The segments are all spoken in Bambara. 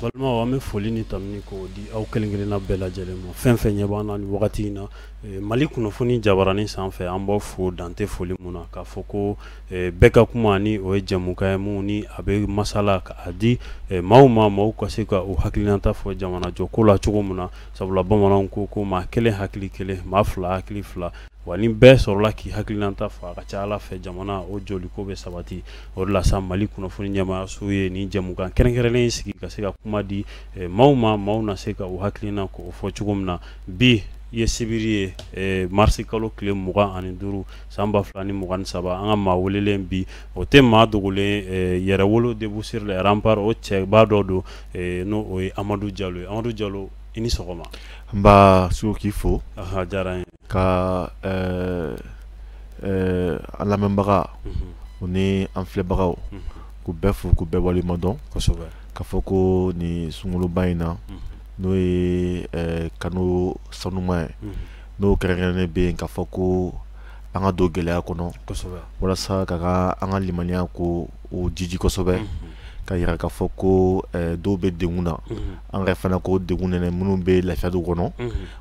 balimaw an bɛ foli ni tanuni k'o di aw kelen kelenna bɛɛ lajɛlen ma fɛn fɛn ɲɛ b'an na nin wagati in na eh, mali kunnafoni jabaranin sanfɛ an b'aw fo dan tɛ foli mun na k'a fɔ ko bɛɛ ka kuma ni o ye jɛmukan ye min ni a bɛ masala ka a di maaw ma maaw ka se ka u hakilinanta fɔ jamana jɔ ko la cogo min na sabula bamananw ko ko maa kelen hakili kelen maa fila hakili fila wa ni bɛɛ sɔrɔla k'i hakilinanta fɔ a ka ca ala fɛ jamana o jɔli ko bɛ sabati o de la sa mali kunnafoni ɲɛmaayaso ye nin jɛmukan kɛrɛnkɛrɛnnen in sigi ka se ka kuma di maaw ma maaw na se ka u hakilina ko fɔ cogo min na bi i ye sibiri ye marisi kalo tile mugan ani duuru san ba fila ni mugan ni saba an ka maa welelen bi o tɛ maa dogolen eh, yɛrɛwolo debout sur les remparts o cɛba dɔ don eh, n'o o ye amadu jalo ye amadu jalo i ni sɔgɔma nba sugu k'i fo diyara n ye ka eh, an lamɛnbaga mhm. o ni an filɛbagaw mhm. k'u bɛɛ fo k'u bɛɛ waleɲumandɔn kosɛbɛ k'a fɔ ko nin sunkaloba in na mhm. n'o ye kalo sanuman ye n'o kɛrɛnkɛrɛnnen bɛ yen ka fɔ ko an ka don gɛlɛya kɔnɔ walasa ka ka an ka limaniya ko o jiji kosɛbɛ ka jira ka fɔ ko eh, dɔw bɛ degun na an ka fana k'o degun nɛnɛ minnu bɛ lafiya du kɔnɔ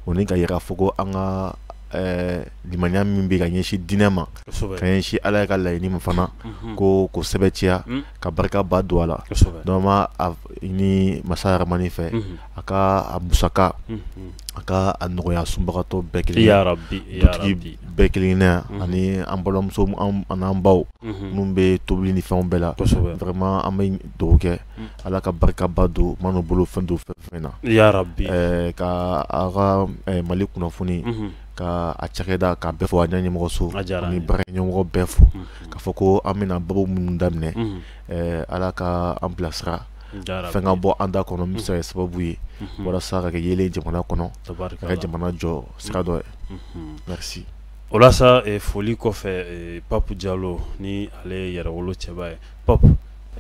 o ni ka jira ka fɔ ko an ka eh, limaniya min bɛ ka ɲɛsin diinɛ ma ka ɲɛsin ala yɛrɛ ka laɲini ma fana k'o ko sɛbɛntiya Mm. ka barikaba don a la donc an b'a ɲini masa yarahamani fɛ Mhm. a ka a musaka a ka a nɔgɔya sunbagatɔ bɛɛ kelen dutigi bɛɛ kelenna ye ani an balimamuso an'an baw minnu bɛ tobili ni fɛnw bɛɛ la vraiment an bɛ dugawu kɛ ala ka barikaba don man'u bolo fɛn don fɛn fɛn na ka aw ka mali kunnafoni ka a cakɛda ka bɛɛ fɔ a ɲɛmɔgɔso ni baara ɲɛmɔgɔ bɛɛ fo k'a fɔ ko an bɛna babu minnu daminɛ ala ka an bilasira fɛn ka bɔ an da kɔnɔ min bɛ se ka kɛ sababu ye walasa ka kɛ yeelen ye jamana kɔnɔ ka kɛ jamana jɔ sira dɔ ye merci o la sa foli kɔfɛ pap jalo ni ale ye yɛrɛ wolo cɛba ye pap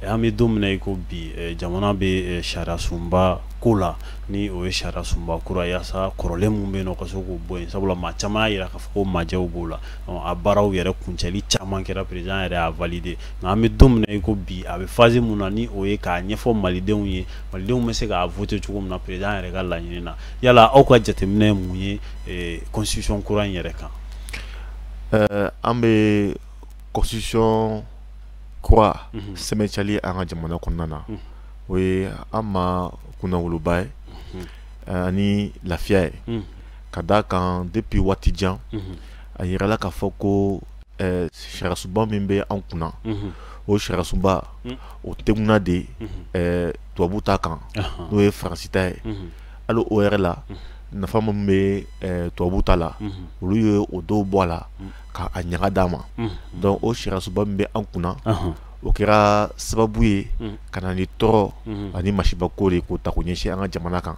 an bɛ don min na i ko bi jamana bɛ sariya sunba ko la ni o ye sariya sunba kura yaasa kɔrɔlen min bɛ yen ka se k'o bɔ yen sabula maa caman y'a jira k'a fɔ ko majɛw b'o la a baaraw yɛrɛ kuncɛli caman kɛra président yɛrɛ y'a valider nka an bɛ don min na i ko bi a bɛ phase mun na ni o ye k'a ɲɛfɔ malidenw ye malidenw bɛ se k'a voter cogo min na président yɛrɛ ka laɲini na yala aw ka jateminɛ ye mun ye constitution kura in yɛrɛ kan an bɛ constitution kura sɛmɛntiyali an ka jamana kɔnɔna na o ye an ma kunnawoloba ye ani lafiya ye ka d' a kan depuis waati jan a jirala k'a fɔ ko eh, sariyasunba min bɛ an kunna mhm. o sariyasunba mhm. o teguna de eh, tubabu ta kan n'o ye faransi ta ye hali o yɛrɛ la nafa min bɛ eh, tubabu ta la olu ye o dɔw bɔ a la ka a ɲaga d'an ma donc o sariyasunba min bɛ an kunna o kɛra sababu ye ka na ni tɔɔrɔ ani masibako de k'o ta k'o ɲɛsin an ka jamana kan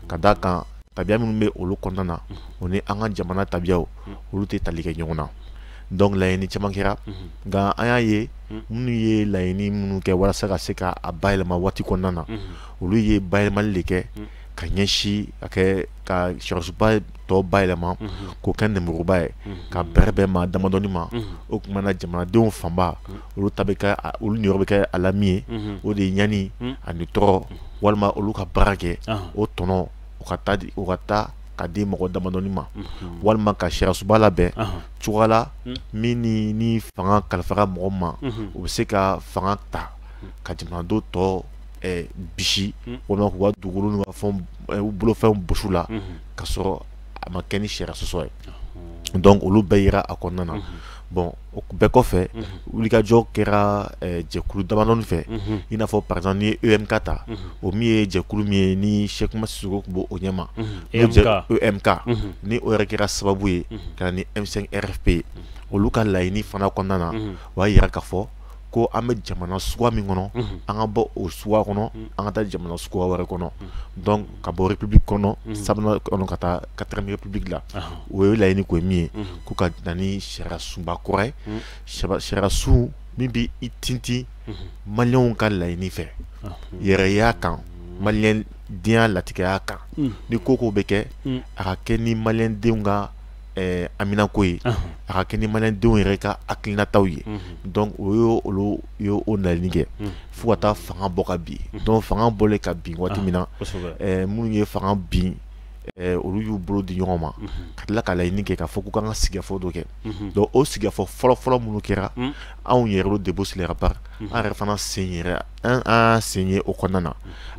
ka d'a kan tabiya minnu bɛ olu kɔnɔna na o ni an ka jamana tabiyaw olu tɛ tali kɛ ɲɔgɔn na donc laɲini caman kɛra nka an y'a ye minnu ye laɲini minnu kɛ walasa ka se ka a bayɛlɛma waati kɔnɔna na olu ye bayɛlɛmali de kɛ ka ɲɛsin ka kɛ ka sariyasunba tɔ bayɛlɛma k'o kɛ nɛmuruba ye k'a bɛrɛbɛn maa damadɔni ma o tuma na jamanadenw fanba olu ta bɛ kɛ olu niyɔrɔ bɛ kɛ a la min ye o de ye ɲani ani tɔɔrɔ walima olu ka baara kɛ o tɔnɔ u ka taa di u ka taa ka di mɔgɔ damadɔni ma mhm. walima ka sariyasunba labɛn cogoya la mhm. min ni ni fanga kalifara mɔgɔ ma o mhm. bɛ se ka fanga ta ka jamanadenw tɔ eh, bisi walima k'u ka dugukolo n'u ka fɛnw eh, u bolofɛnw bɔsi u la ka sɔrɔ a ma kɛ ni sariya sɔsɔ ye donc olu bɛɛ yera a kɔnɔna na bon o bɛɛ kɔfɛ wulikajɔ kɛra jɛkulu damadɔniw fɛ i n'a fɔ par exemple ni EMK ta o min ye jɛkulu min ye ni Cheick Oumar Sissoko tun b'o ɲɛma EMK ni o yɛrɛ kɛra sababu ye ka na ni M5 RFP ye olu ka laɲini fana kɔnɔna na o y'a jira k'a fɔ ko an bɛ jamana suguya min kɔnɔ an ka bɔ o suguya kɔnɔ an ka taa jamana suguya wɛrɛ kɔnɔ donc ka bɔ république kɔnɔ sabanan kɔnɔ ka taa quatrième république la o ye laɲini ko ye min ye ko ka na ni sariyasunba kura ye sariyasun min bɛ i tintin maliyɛnw ka laɲini fɛ yɛrɛya kan maliyɛndenya latigɛya kan ni ko o ko bɛ kɛ a ka kɛ ni maliyɛndenw ka haminako ye a ka kɛ ni maliyɛndenw yɛrɛ ka hakilinataw ye donc o y' olu y'o laɲini kɛ fo ka taa fanga bɔ ka bin donc fanga bɔlen ka bin waati min na minnu ye fanga bin olu y'u bolo di ɲɔgɔn ma ka tila ka laɲini kɛ k'a fɔ k'u kan ka sigikafɔ dɔ kɛ donc o sigikafɔ fɔlɔfɔlɔ minnu kɛra anw Yɛrɛwolo debout sur les remparts an yɛrɛ fana sen yɛrɛ an an sen ye o kɔnɔna na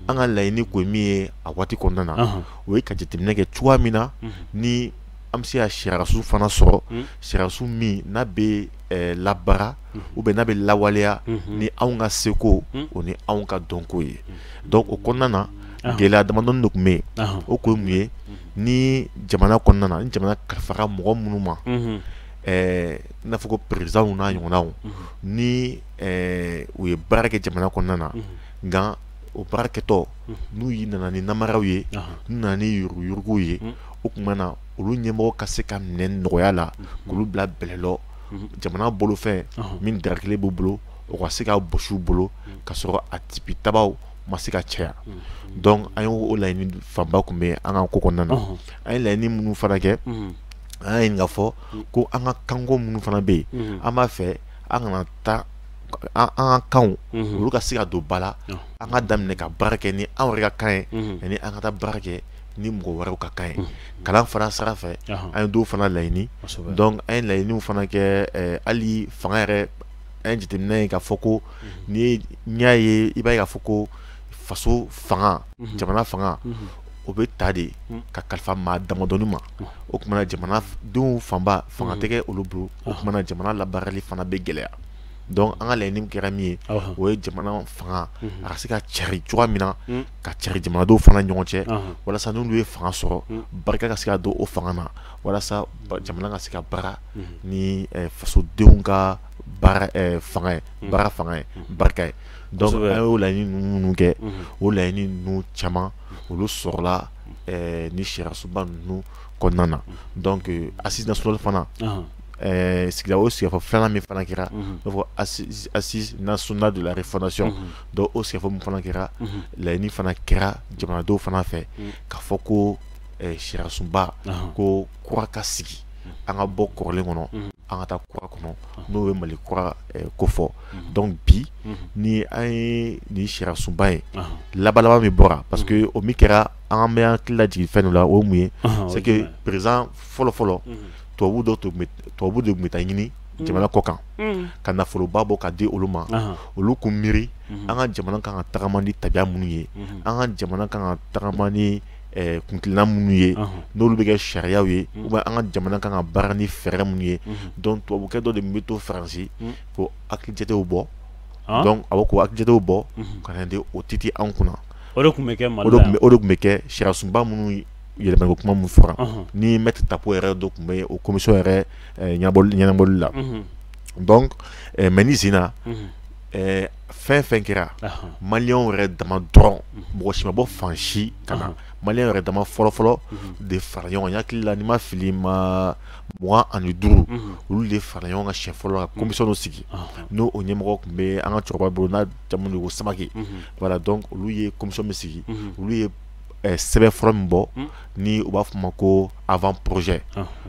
an ka laɲini kun ye min ye a waati kɔnɔna na o ye ka jateminɛ kɛ cogoya min na ni an bɛ se ka sariyasun fana sɔrɔ sariyasun min n'a bɛ labaara ou bien n'a bɛ lawaleya ni anw ka seko o ni anw ka dɔnko ye donc o kɔnɔna na gɛlɛya damadɔn de tun bɛ yen o kun ye mun ye ni jamana kɔnɔna na ni jamana kalifara mɔgɔ minnu ma i n'a fɔ ko présidentw n'a ɲɔgɔnnaw ni ɛɛ u ye baara kɛ jamana kɔnɔna na nka o baarakɛtɔ n'u y'i nana ni namaraw ye n'u nana ni yuruguyuruguw ye o tuma na olu ɲɛmɔgɔ ka se ka minɛ nɔgɔya la k'olu bila bɛlɛlɔ jamana bolofɛn min darakelen b'u bolo o ka se ka bɔsi u bolo ka sɔrɔ a tipi tabaw ma se ka caya donc an y'o laɲini fanba tun bɛ an ka ko kɔnɔna na an ye laɲini minnu fana kɛ an y'a ɲini k'a fɔ ko an ka kanko minnu fana bɛ yen an b'a fɛ an kana taa an ka kanw mhm. olu ka se ka don ba la an ka daminɛ ka baara kɛ ni an yɛrɛ ka kan ye mhm. yanni an ka taa baara kɛ ni mɔgɔ wɛrɛw ka kan ye mhm. kalan fana sira fɛ an ye dɔw fana laɲini donc an ye laɲiniw fana kɛ eh, hali fanga yɛrɛ an ye jateminɛ ye k'a fɔ ko n'i y'a ye i b'a ye k'a fɔ ko faso fanga jamana fanga o bɛ ta de ka kalifa maa damadɔni ma o tuma na jamanadenw fanba fanga tɛ kɛ mm. olu bolo o tuma na jamana labaarali fana bɛ gɛlɛya donc an ka laɲini kɛra min ye o ye jamana fanga mm-hmm. a ka se ka cari cogoya min na mm. ka cari jamanadenw fana ɲɔgɔn cɛ walasa n'olu ye fanga sɔrɔ mm. barika ka se ka don o fanga na walasa jamana ka se ka baara mm-hmm. ni eh, fasodenw ka baara eh, fanga ye baara fanga ye barika ye donc an y'o laɲini ninnu kɛ o laɲini ninnu caman olu sɔrɔla eh, ni sariyasunba ninnu kɔnɔna na donc assise nationale fana eh, sigila o sigikafɔ filanan min fana kɛra i n'a fɔ assise nationale de la refondation donc o sigikafɔ min fana kɛra laɲini fana kɛra jamanadenw fana fɛ k'a fɔ ko eh, sariyasunba ko kura ka sigi an ka bɔ kɔrɔlen kɔnɔ an ka taa kura kɔnɔ n'o ye mali kura eh, ko fɔ donc bi ni an ye nin sariyasunba ye laban laban min bɔra parce que o min kɛra an bɛ an hakili lajigin fɛn dɔ la o ye mun ye c'est que président fɔlɔ fɔlɔ tubabu dɔ tun bɛ tubabu de tun bɛ taa ɲini jamana kɔ kan ka nafoloba bɔ ka di olu ma olu k'u miiri an ka jamana kan ka tagama ni tabiya minnu ye an ka jamana kan ka tagama ni kuntilenna minnu ye n'olu bɛ kɛ sariyaw ye ou bien an ka jamana kan ka baara ni fɛɛrɛ minnu ye donc tubabukɛ dɔ de bɛ to faransi k'o hakilijatew bɔ donc a bɛ k'o hakilijatew bɔ ka na di o titi an kunna o de tun bɛ kɛ mali la o de tun bɛ kɛ sariyasunba minnu yɛlɛmaniko kuma min fɔra ni maître tapo yɛrɛ dɔ tun bɛ o commission yɛrɛ ɲɛnabɔli la donc mais nin sen in na fɛn fɛn kɛra maliyɛnw yɛrɛ dama dɔrɔn mɔgɔ si ma bɔ fan si ka na maliyɛn yɛrɛ dama fɔlɔfɔlɔ de fara ɲɔgɔn kan n hakili la ni n ma fili maa mugan ani duuru olu de fara ɲɔgɔn kan siɲɛ fɔlɔ ka commission sigi n'o o ɲɛmɔgɔ tun bɛ an ka cɛkɔrɔba bolo n'a jamu ko samake voilà donc olu ye commission min sigi olu ye sɛbɛn fɔlɔ min bɔ ni u b'a f'a ma ko avant projet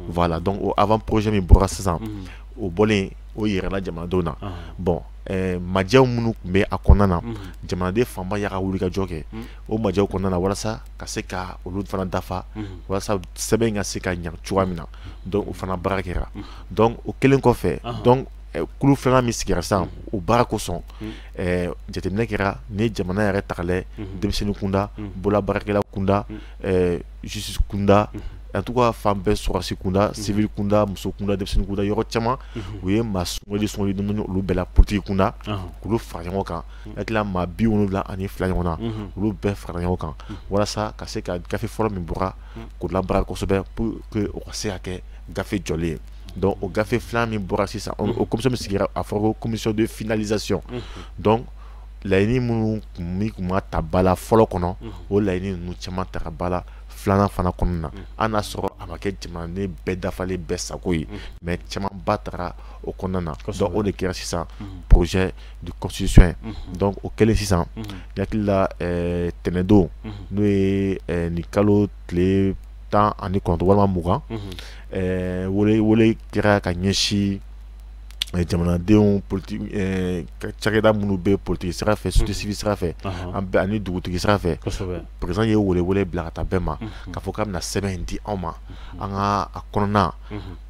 voilà donc o avant projet min bɔra sisan o bɔlen o yirala jamanadenw na bon eh, majɛw minnu tun bɛ a kɔnɔna na jamanaden fanba y'a ka wulikajɔ kɛ o majɛw kɔnɔna na walasa ka se ka olu fana dafa walasa sɛbɛn in ka se ka ɲa cogoya min na donc o fana baara kɛra donc o kɛlen kɔfɛ donc eh, kulu filanan min sigira sisan o baara kosɔn eh, jateminɛ kɛra ni jamana yɛrɛ ta k'a lajɛ denmisɛnnin kunda bololabaarakɛla kunda eh, justice kunda en tout cas fan bɛɛ sɔrɔdasi kunda civil kunda muso kunda denmisɛnnin kunda yɔrɔ caman u ye maa sugandi sugandi dɔɔni dɔɔni olu bɛɛ la politique kunda k'olu fara ɲɔgɔn kan n hakili la maa bi wolonwula ani fila ɲɔgɔn na olu bɛɛ fara ɲɔgɔn kan walasa ka se ka gafe fɔlɔ min bɔra k'o labaara kosɛbɛ pour que o ka se ka kɛ gafe jɔlen ye donc o gafe filanan min bɔra sisan o commission min sigira a fɔra ko commission de finalisation donc laɲini minnu tun tun ma ta ba la fɔlɔ kɔnɔ o laɲini ninnu caman tara ba la filanan fana kɔnɔna na an n'a sɔrɔ a ma kɛ jamanaden bɛɛ dafalen bɛɛ sago ye mais caman ba tara o kɔnɔna na donc o de kɛra sisan projet de constitution ye donc o kɛlen sisan n hakili la tɛnɛndon n'o ye nin kalo tile tan ani kɔnɔntɔn walima mugan wele kɛra ka ɲɛsin jamanadenw cakɛda minnu bɛ politiki sira fɛ société civile sira fɛ an bɛɛ ani dugutigi sira fɛ président ye welewele bila ka taa bɛɛ ma k'a fɔ k'a bɛna sɛbɛn in di anw ma an ka a kɔnɔna na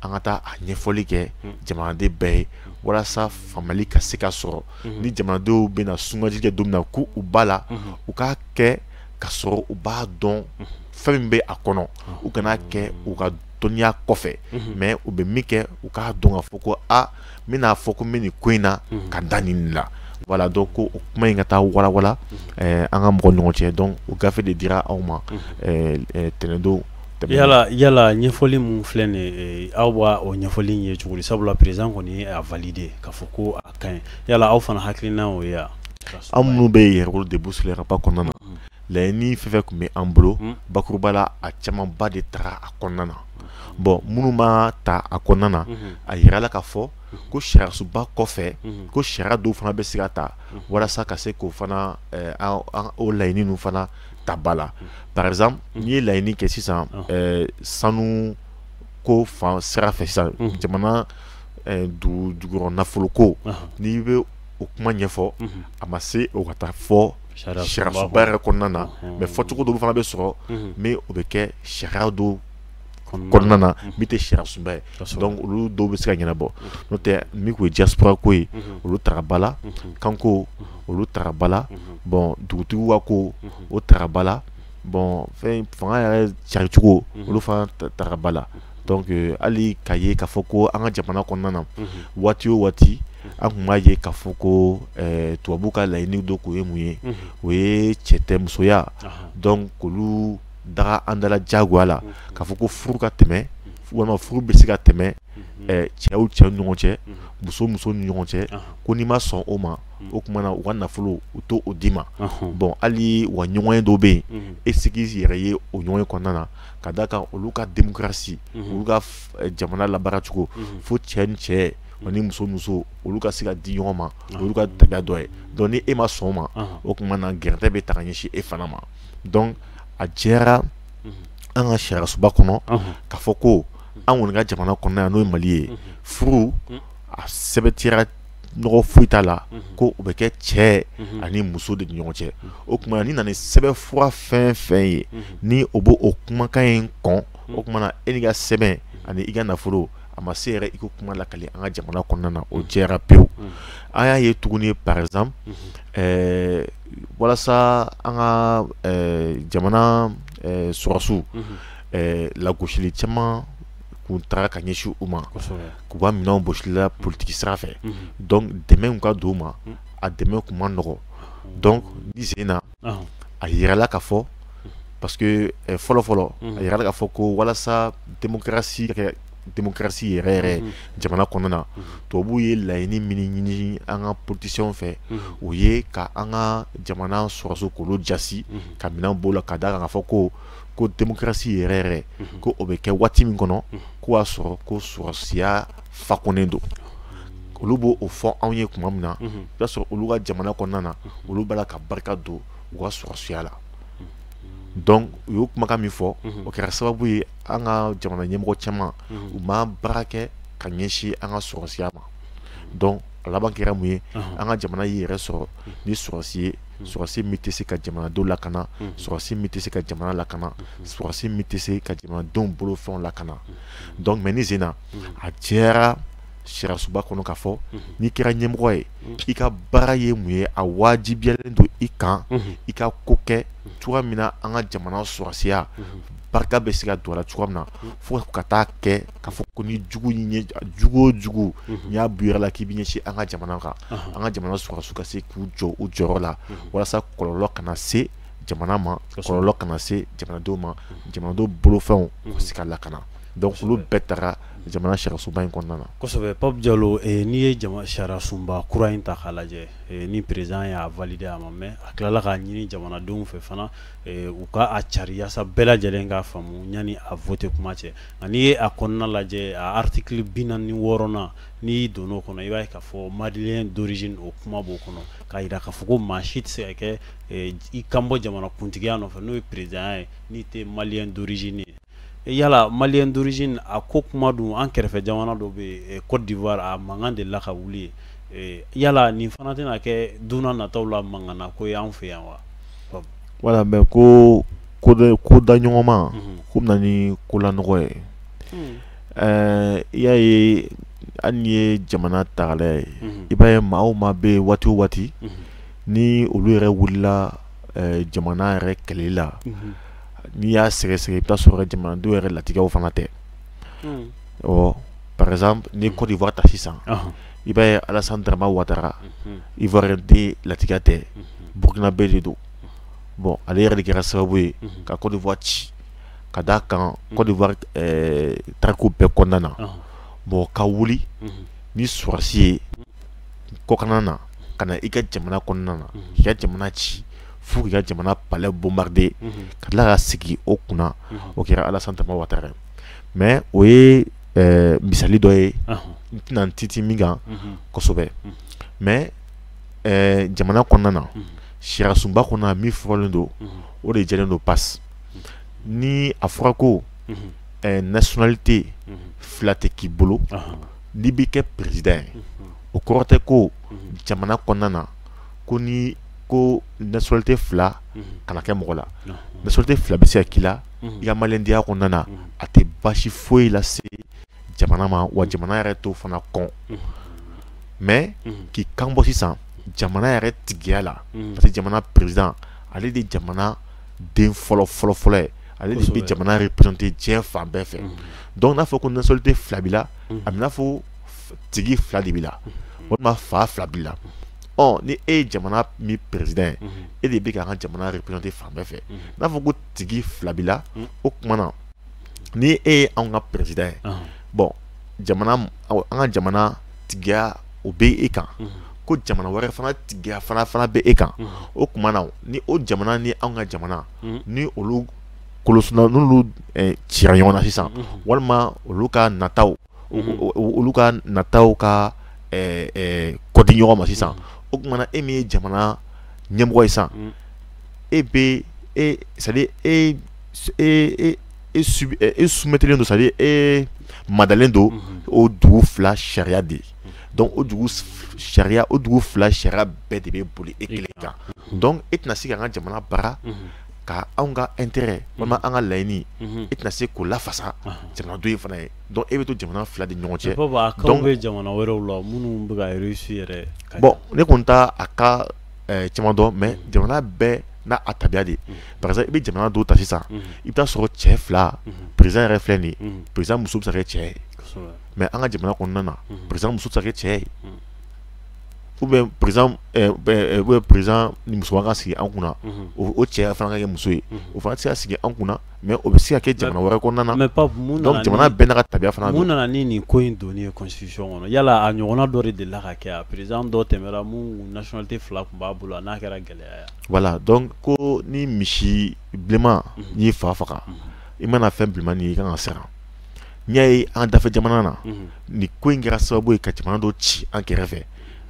an ka taa a ɲɛfɔli kɛ jamanaden bɛɛ ye walasa faamuyali ka se ka sɔrɔ ni jamanadenw bɛna sugandili kɛ don min na k'u ba la u k'a kɛ ka sɔrɔ u b'a dɔn fɛn min bɛ a kɔnɔ u kana a kɛ u ka dɔnniya kɔfɛ mhm. mais u bɛ min kɛ u k'a dɔn k'a fɔ ko a n bɛn'a fɔ ko n bɛ nin ko in na mhm. ka da nin la voilà donc ko o kuma in ka taa walawala mhm. eh, an ka mɔgɔ ɲɔgɔn cɛ donc o gafe de dira aw ma eh, eh, tɛnɛndon yala yala ɲɛfɔli min filɛ nin aw b'a o ɲɛfɔli in ye cogo di sabula président kɔni y'a validé k'a fɔ ko a ka ɲi yala aw fana hakilina o ye wa aw minnu bɛ yɛrɛwolo debout sur les remparts kɔnɔna na laɲini fɛn fɛn tun bɛ an bolo hmm. bakuruba la a camanba de tara a kɔnɔna na bon minnu ma ta a kɔnɔna na hmm. a yirala k'a fɔ ko sariyasunba kɔfɛ hmm. ko sariya dɔw fana bɛ se ka ta walasa ka se k'o fana eh, o laɲini ninnu fana ta ba la par exemple n'i ye laɲini kɛ sisan ah. eh, sanu ko fan sira fɛ sisan jamana eh, dugujukɔrɔ nafoloko ah. n'i bɛ o kuma ɲɛfɔ a ma se o ka taa fɔ sariyasunba yɛrɛ kɔnɔna na mais fɔcogo dɔw fana bɛ sɔrɔ min o bɛ kɛ sariya dɔ kɔnɔna na min tɛ sariyasunba ye donc olu dɔw bɛ se ka ɲɛnabɔ n'o tɛ min tun ye diaspora ko ye olu tara ba la kanko olu tara ba la bon dugutigiw ka ko o tara ba la bon fɛn fanga yɛrɛ cari cogo mhm. olu fana tara ba la donc euh, hali k'a ye k'a fɔ ko an ka jamana kɔnɔna na mhm. waati o waati an tun b'a ye k'a fɔ ko euh, tubabuw ka laɲini dɔ kun ye mun ye mhm. o ye cɛtɛmusoya donc k'olu daga an dala jagoya la k'a fɔ ko furu ka tɛmɛ walima furu bɛ se ka tɛmɛ cɛw cɛw ni ɲɔgɔn cɛ muso muso ni ɲɔgɔn cɛ ko n'i ma sɔn o ma o tuma na u ka nafolo u t'o d'i ma bon hali wa ɲɔgɔnye dɔw bɛ yen e sigi yɛrɛ ye o ɲɔgɔnye kɔnɔna na ka d'a kan olu ka démocratie olu ka jamana labaaracogo fo cɛ ni cɛ ni muso muso olu ka se ka di ɲɔgɔn ma olu ka tabiya dɔ ye donc ni e ma sɔn o ma o tuma na gɛrɛntɛ bɛ ta ka ɲɛsin e fana ma donc a jɛra an ka sariyasunba kɔnɔ k'a fɔ ko an kɔni ka jamana kɔnɔna yan n'o ye mali ye furu a sɛmɛntiyara nɔgɔ foyi t'a la ko o bɛ kɛ cɛ ani muso de ni ɲɔgɔn cɛ o tuma na n'i nana ni sɛbɛnfura fɛn fɛn ye ni o b'o o kumakan in kɔn o tuma na e n'i ka sɛbɛn ani i ka nafolo a ma se yɛrɛ i ko kuma lakali an ka jamana kɔnɔna na o jɛra pewu an y'a ye tuguni par exemple walasa an ka jamana sɔrɔsiw lagosili caman kun tara ka ɲɛsin u ma k'u ka minɛnw bɔsi u la politigi sira fɛ donc dɛmɛ kun ka don u ma a dɛmɛ tun man nɔgɔ donc nin sen na a yirala k'a fɔ parce que fɔlɔfɔlɔ a yirala k'a fɔ ko walasa démocratie yɛrɛ yɛrɛ jamana kɔnɔna na tubabuw ye laɲini min ɲini an ka politiciens fɛ o ye ka an ka jamana sɔrɔsiw k'olu jasi ka minɛn b'o la ka d'a kan k'a fɔ ko ko démocratie yɛrɛ yɛrɛ mhm. ko o bɛ kɛ waati min kɔnɔ mhm. k'o y'a sɔrɔ ko sɔrɔsiya fakonnen don olu b'o o fɔ anw ye tuma min na mhm. i b'a sɔrɔ olu ka jamana kɔnɔna na olu b'a la ka barika don u ka sɔrɔsiya la donc u y'o kumakan min fɔ o kɛra sababu ye an ka jamana ɲɛmɔgɔ caman u ma baara kɛ ka ɲɛsin an ka sɔrɔsiya ma donc a laban kɛra mun ye an ka jamana y'i yɛrɛ sɔrɔ ni sɔrɔsi ye sɔrɔsi min tɛ se ka jamanadenw lakana sɔrɔsi min tɛ se ka jamana lakana sɔrɔsi min tɛ se ka jamanadenw bolofɛnw lakana donc mais nin sen in na a jɛra sariyasunba kɔnɔ k'a fɔ n'i kɛra ɲɛmɔgɔ ye i ka baara ye mun ye a wajibiyalen don i kan i ka ko kɛ cogoya min na an ka jamana sɔrɔsiya barika bɛ se ka don a la cogoya min na fo ka taa kɛ k'a fɔ ko ni jugu ɲɛ jugu o jugu n'i y'a bɔ i yɛrɛ la k'i b'i ɲɛsin an ka jamana kan an ka jamana sɔrɔsiw ka se k'u jɔ u jɔyɔrɔ la walasa kɔlɔlɔ kana se jamana ma kɔlɔlɔ kana se jamanadenw ma jamanadenw bolofɛnw ka se ka lakana donc olu bɛɛ tara jamana sariyasunba in kɔnɔna na kosɛbɛ Pape Diallo n'i ye sariyasunba kura in ta k'a lajɛ ni président y'a valider a ma mɛn a tilala k'a ɲini jamanadenw fɛ fana u ka a cari yaasa bɛɛ lajɛlen k'a faamu yanni a voter kuma cɛ nka n'i ye a kɔnɔna lajɛ a article bi naani ni wɔɔrɔnan n'i donn'o kɔnɔ i b'a ye k'a fɔ malien d'origine o kuma b'o kɔnɔ k'a jira k'a fɔ ko maa si tɛ se ka kɛ i kanbɔ jamanakuntigiya nɔfɛ n'o ye présidentya ye n'i tɛ malien d'origine ye yala malien d'origine a ko kuma dun an kɛrɛfɛ jamana dɔ bɛ Côte d'Ivoire a mankan delila ka wuli yen yala nin fana tɛna kɛ don nataw la mankan na ko ye an fɛ yan wa wala an bɛ ko ko ko da ɲɔgɔn ma ko bɛna ni kolanɔgɔ ye ɛɛ i y'a ye n'i ye jamana ta k'a lajɛ i b'a ye maa o maa bɛ yen waati o waati ni olu yɛrɛ wulila jamana yɛrɛ kɛlɛli la n'i y'a sɛgɛsɛgɛ i bɛ t'a sɔrɔ jamanadenw yɛrɛ latigɛw fana tɛ hmm. ɔ par exemple ni Côte d'Ivoire ta sisan i b'a ye Alassane Dramane Ouattara mhm. Ivoirien den latigɛ tɛ mhm. Burkinabé de don bon ale yɛrɛ de kɛra sababu ye mhm. ka Côte d'Ivoire ci ka d'a kan Côte d'Ivoire eh, tariku bɛɛ kɔnɔna na bon ka wuli ni sɔrɔsi ye kɔkanna na ka na i ka jamana kɔnɔna na k'i ka jamana ci fo k'i ka jamana palais bombarder ka tila ka sigi o kunna o kɛra Alassane Dramane Ouattara mais o ye ɛɛ misali dɔ ye n tɛna n tintin min kan kosɛbɛ mais ɛɛ jamana kɔnɔna na sariyasunba kɔnɔna min fɔlen don o de jɛlen don passe ni a fɔra ko ɛɛ nationalité fila tɛ k'i bolo n'i bɛ kɛ président ye o kɔrɔ tɛ ko jamana kɔnɔna na ko ni ko nationalité fila kana kɛ mɔgɔ la nationalité fila bɛ se ka k'i la i ka malidenya kɔnɔna na a tɛ baasi foyi lase jamana ma wa jamana yɛrɛ t'o fana kɔn mais k'i kan bɔ sisan jamana yɛrɛ tigiya la parce que jamana président ale de jamana den fɔlɔ fɔlɔ fɔlɔ ye ale de bɛ jamana yɛrɛ représenter diɲɛ fan bɛɛ fɛ donc n'a fɔ ko nationalité fila b'i la a bɛ fɔ tigi fila de b'i la walima fa fila b'i la ɔ ni e ye jamana min président ye e de bɛ ka an ka jamana représenter fan bɛɛ fɛ n'a fɔ ko tigi fila b'i la o tuma na ni e ye anw ka président ye bon jamana an ka jamana tigiya o bɛ e kan ko jamana wɛrɛ fana tigiya fana bɛ e kan o tuma na ni o jamana ni anw ka jamana ni olu kolosuna n'olu cira ɲɔgɔn na sisan walima olu ka nataw olu ka nataw ka kɔ di ɲɔgɔn ma sisan o tuma na e min ye jamana ɲɛmɔgɔ ye sisan e bɛ c'est-à-dire e soumettelen don c'est-à-dire e madalen don o dugu fila sariya de ye donc o dugu sariya o dugu fila sariya bɛɛ de bɛ boli e kelen kan donc e tɛna se ka an ka jamana baara ka anw ka intérêt walima an ka laɲini e tɛna se k'o lafasa jamana dɔ in fana ye donc e bɛ to jamana fila de ɲɔgɔn cɛ donc a cas bɛ jamana wɛrɛw la minnu bɛ ka réussi yɛrɛ bon ne kɔni t'a a cas caman dɔn mais jamana bɛɛ n'a a tabiya de par exemple i bɛ jamana dɔw ta sisan i bɛ taa sɔrɔ cɛ fila président yɛrɛ filɛ nin ye président muso bɛ se ka kɛ cɛ ye mais an ka jamana kɔnɔna na président muso tɛ se ka kɛ cɛ ye. ou bien par exemple président ni muso ka sigi an kunna o cɛ fana ka kɛ muso ye o fana tɛ se ka sigi an kunna mais o bɛ se ka kɛ jamana wɛrɛ kɔnɔna na jamana bɛɛ n'a ka tabiya fana don mun nana ni nin ko in donni ye constitution kɔnɔ yala a ɲɔgɔnna dɔ de delila ka kɛ président dɔ tɛmɛna min nationalité fila tun b'a bolo a n'a kɛra gɛlɛya ye voilà donc ko ni misi bilenman n'i fa faga i mana fɛn bilenman ye i ka kan ka siran n'i y'a ye an dafɛ jamana na nin ko in kɛra sababu ye ka jamana dɔ ci an kɛrɛfɛ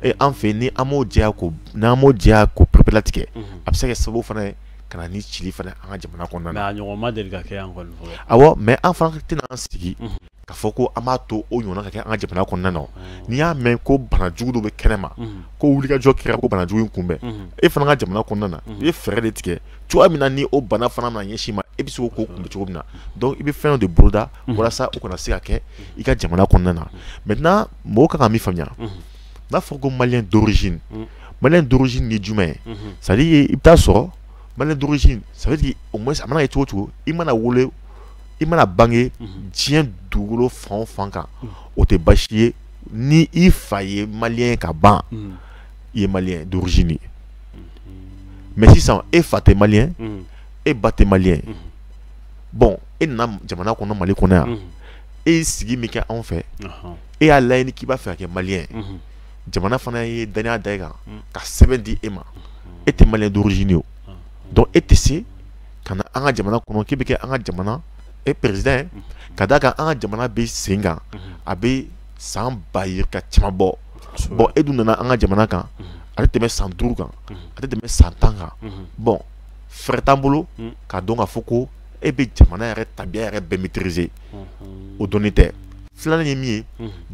ee an fɛ ni an m'o jɛya k'o n'an m'o jɛya k'o pereperelatigɛ a bɛ se ka kɛ sababu fana ye ka na ni cili fana an ka jamana kɔnɔna na a ɲɔgɔn ma deli ka kɛ yan kɔni fɔlɔ awɔ mais an fana tɛna an sigi k'a fɔ ko an b'a to o ɲɔgɔnna ka kɛ an ka jamana kɔnɔna na n'i y'a mɛn ko banajugu dɔ bɛ kɛnɛ ma ko wulikajɔ kɛra ko banajugu in kunbɛn e fana ka jamana kɔnɔna na i ye fɛɛrɛ de tigɛ cogoya min na ni o bana fana mana ɲɛsin i ma e bɛ se k'o kunbɛn cogo min na donc i bɛ fɛn dɔ de boloda mhm. walasa o kana se ka kɛ i ka jamana kɔnɔna na maintenant mɔgɔw ka kan ka min faamuya mhm. n'a fɔra ko maliyɛn d'origine mhm. maliyɛn d'origine ye jumɛn ye c'est à dire i bɛ taa sɔrɔ maliyɛn d'origine ça veut dire au moins a mana kɛ cogo o cogo i mana wolo i mana bange diɲɛ dugukolo fan o fan kan o tɛ baasi ye ni i fa ye maliyɛn ka ban i ye maliyɛn d'origine ye. mais sisan e fa tɛ maliyɛn e ba tɛ maliyɛn bon e nana jamana kɔnɔ mali kɔnɔ yan e ye sigi min kɛ anw fɛ e y'a laɲini k'i b'a fɛ ka kɛ maliyɛn jamana fana ye danaya da e kan ka sɛbɛn di e ma e tɛ maliyɛn d'origine ye o donc e tɛ se ka na an ka jamana kɔnɔ k'i bɛ kɛ an ka jamana e président ka d'a kan an ka jamana bɛ sen kan a bɛ san ba yirika caman bɔ bon e dun nana an ka jamana kan a tɛ tɛmɛ san duuru kan a tɛ tɛmɛ san tan kan bon fɛɛrɛ t'an bolo k'a dɔn k'a fɔ ko e bɛ jamana yɛrɛ tabiya yɛrɛ bɛɛ maîtriser o dɔnni tɛ filanan ye min ye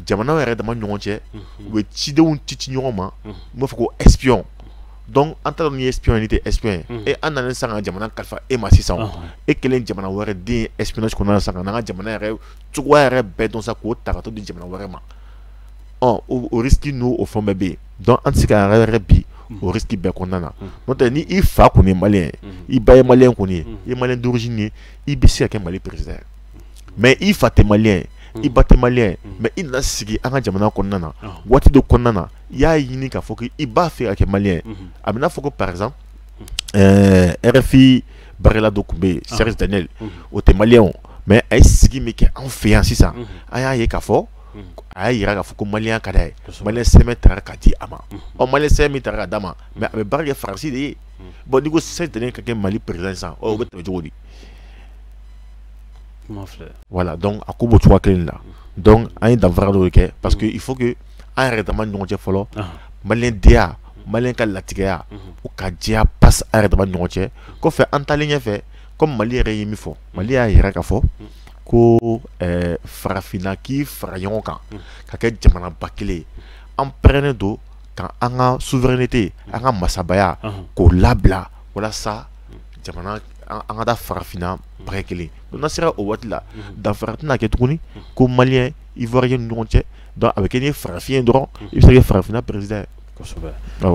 jamanaw yɛrɛ dama ɲɔgɔn cɛ u bɛ cidenw ci ci ɲɔgɔn ma n b'a fɔ ko espion donc an taara ni espion ni tɛ espion ye e an nana sa ka jamana kalifa e ma sisan e kɛlen jamana wɛrɛ den espionnage kɔnɔna na sisan ka n'an ka jamana yɛrɛ cogoya yɛrɛ bɛɛ dɔn sa k'o ta ka t'o di jamana wɛrɛ ma ɔ o risque n'o o fɛn bɛɛ bɛ yen donc an tɛ se k'an yɛrɛ bil'o risque bɛɛ kɔnɔna na n'o tɛ ni i fa kɔni ye maliyɛn ye i ba ye maliyɛn kɔni ye i ye maliyɛn d'origine ye i bɛ se ka kɛ Mali président ye mais i fa tɛ maliyɛn ye i ba tɛ maliyɛn ye mais i nana sigi an ka jamana kɔnɔna na waati dɔ kɔnɔna na i y'a ɲini k'a fɔ k'i b'a fɛ ka kɛ maliyɛn ye a bɛ n'a fɔ ko par exemple ɛɛ euh, RFI baarakɛla dɔ tun bɛ yen Serge Daniel o tɛ maliyɛn o mais a ye sigi min kɛ anw fɛ yan sisan an y'a ye k'a fɔ a y'a jira k'a fɔ ko mali ka d'a ye mali sɛbɛn tara ka di a ma ɔ mali sɛbɛn tara ka d'a ma mais a bɛ baara kɛ faransi de ye bon n'i ko Serge Daniel ka kɛ mali président sisan o bɛ tɛmɛ cogo di voilà donc a ko b'o cogoya kelen la an ye danfara dɔw kɛ parce que il faut an yɛrɛ dama ɲɔgɔn cɛ fɔlɔ malidenya mali ka latigɛya u ka diya pa an yɛrɛ dama ɲɔgɔn cɛ kɔfɛ an taalen ɲɛfɛ comme mali yɛrɛ ye min fɔ mali y'a jira k'a fɔ ko farafinna k'i fara ɲɔgɔn kan ka kɛ jamana ba kelen an pɛrɛnnen don ka an ka souveraineté an ka masabaya k'o labila walasa jamana an ka taa farafinna ba kelen donc n'a sera o waati la danfara tɛna kɛ tuguni ko maliyɛn ivoirien ni ɲɔgɔn cɛ donc a bɛ kɛ n'i ye farafin ye dɔrɔn i bɛ se ka kɛ farafinna président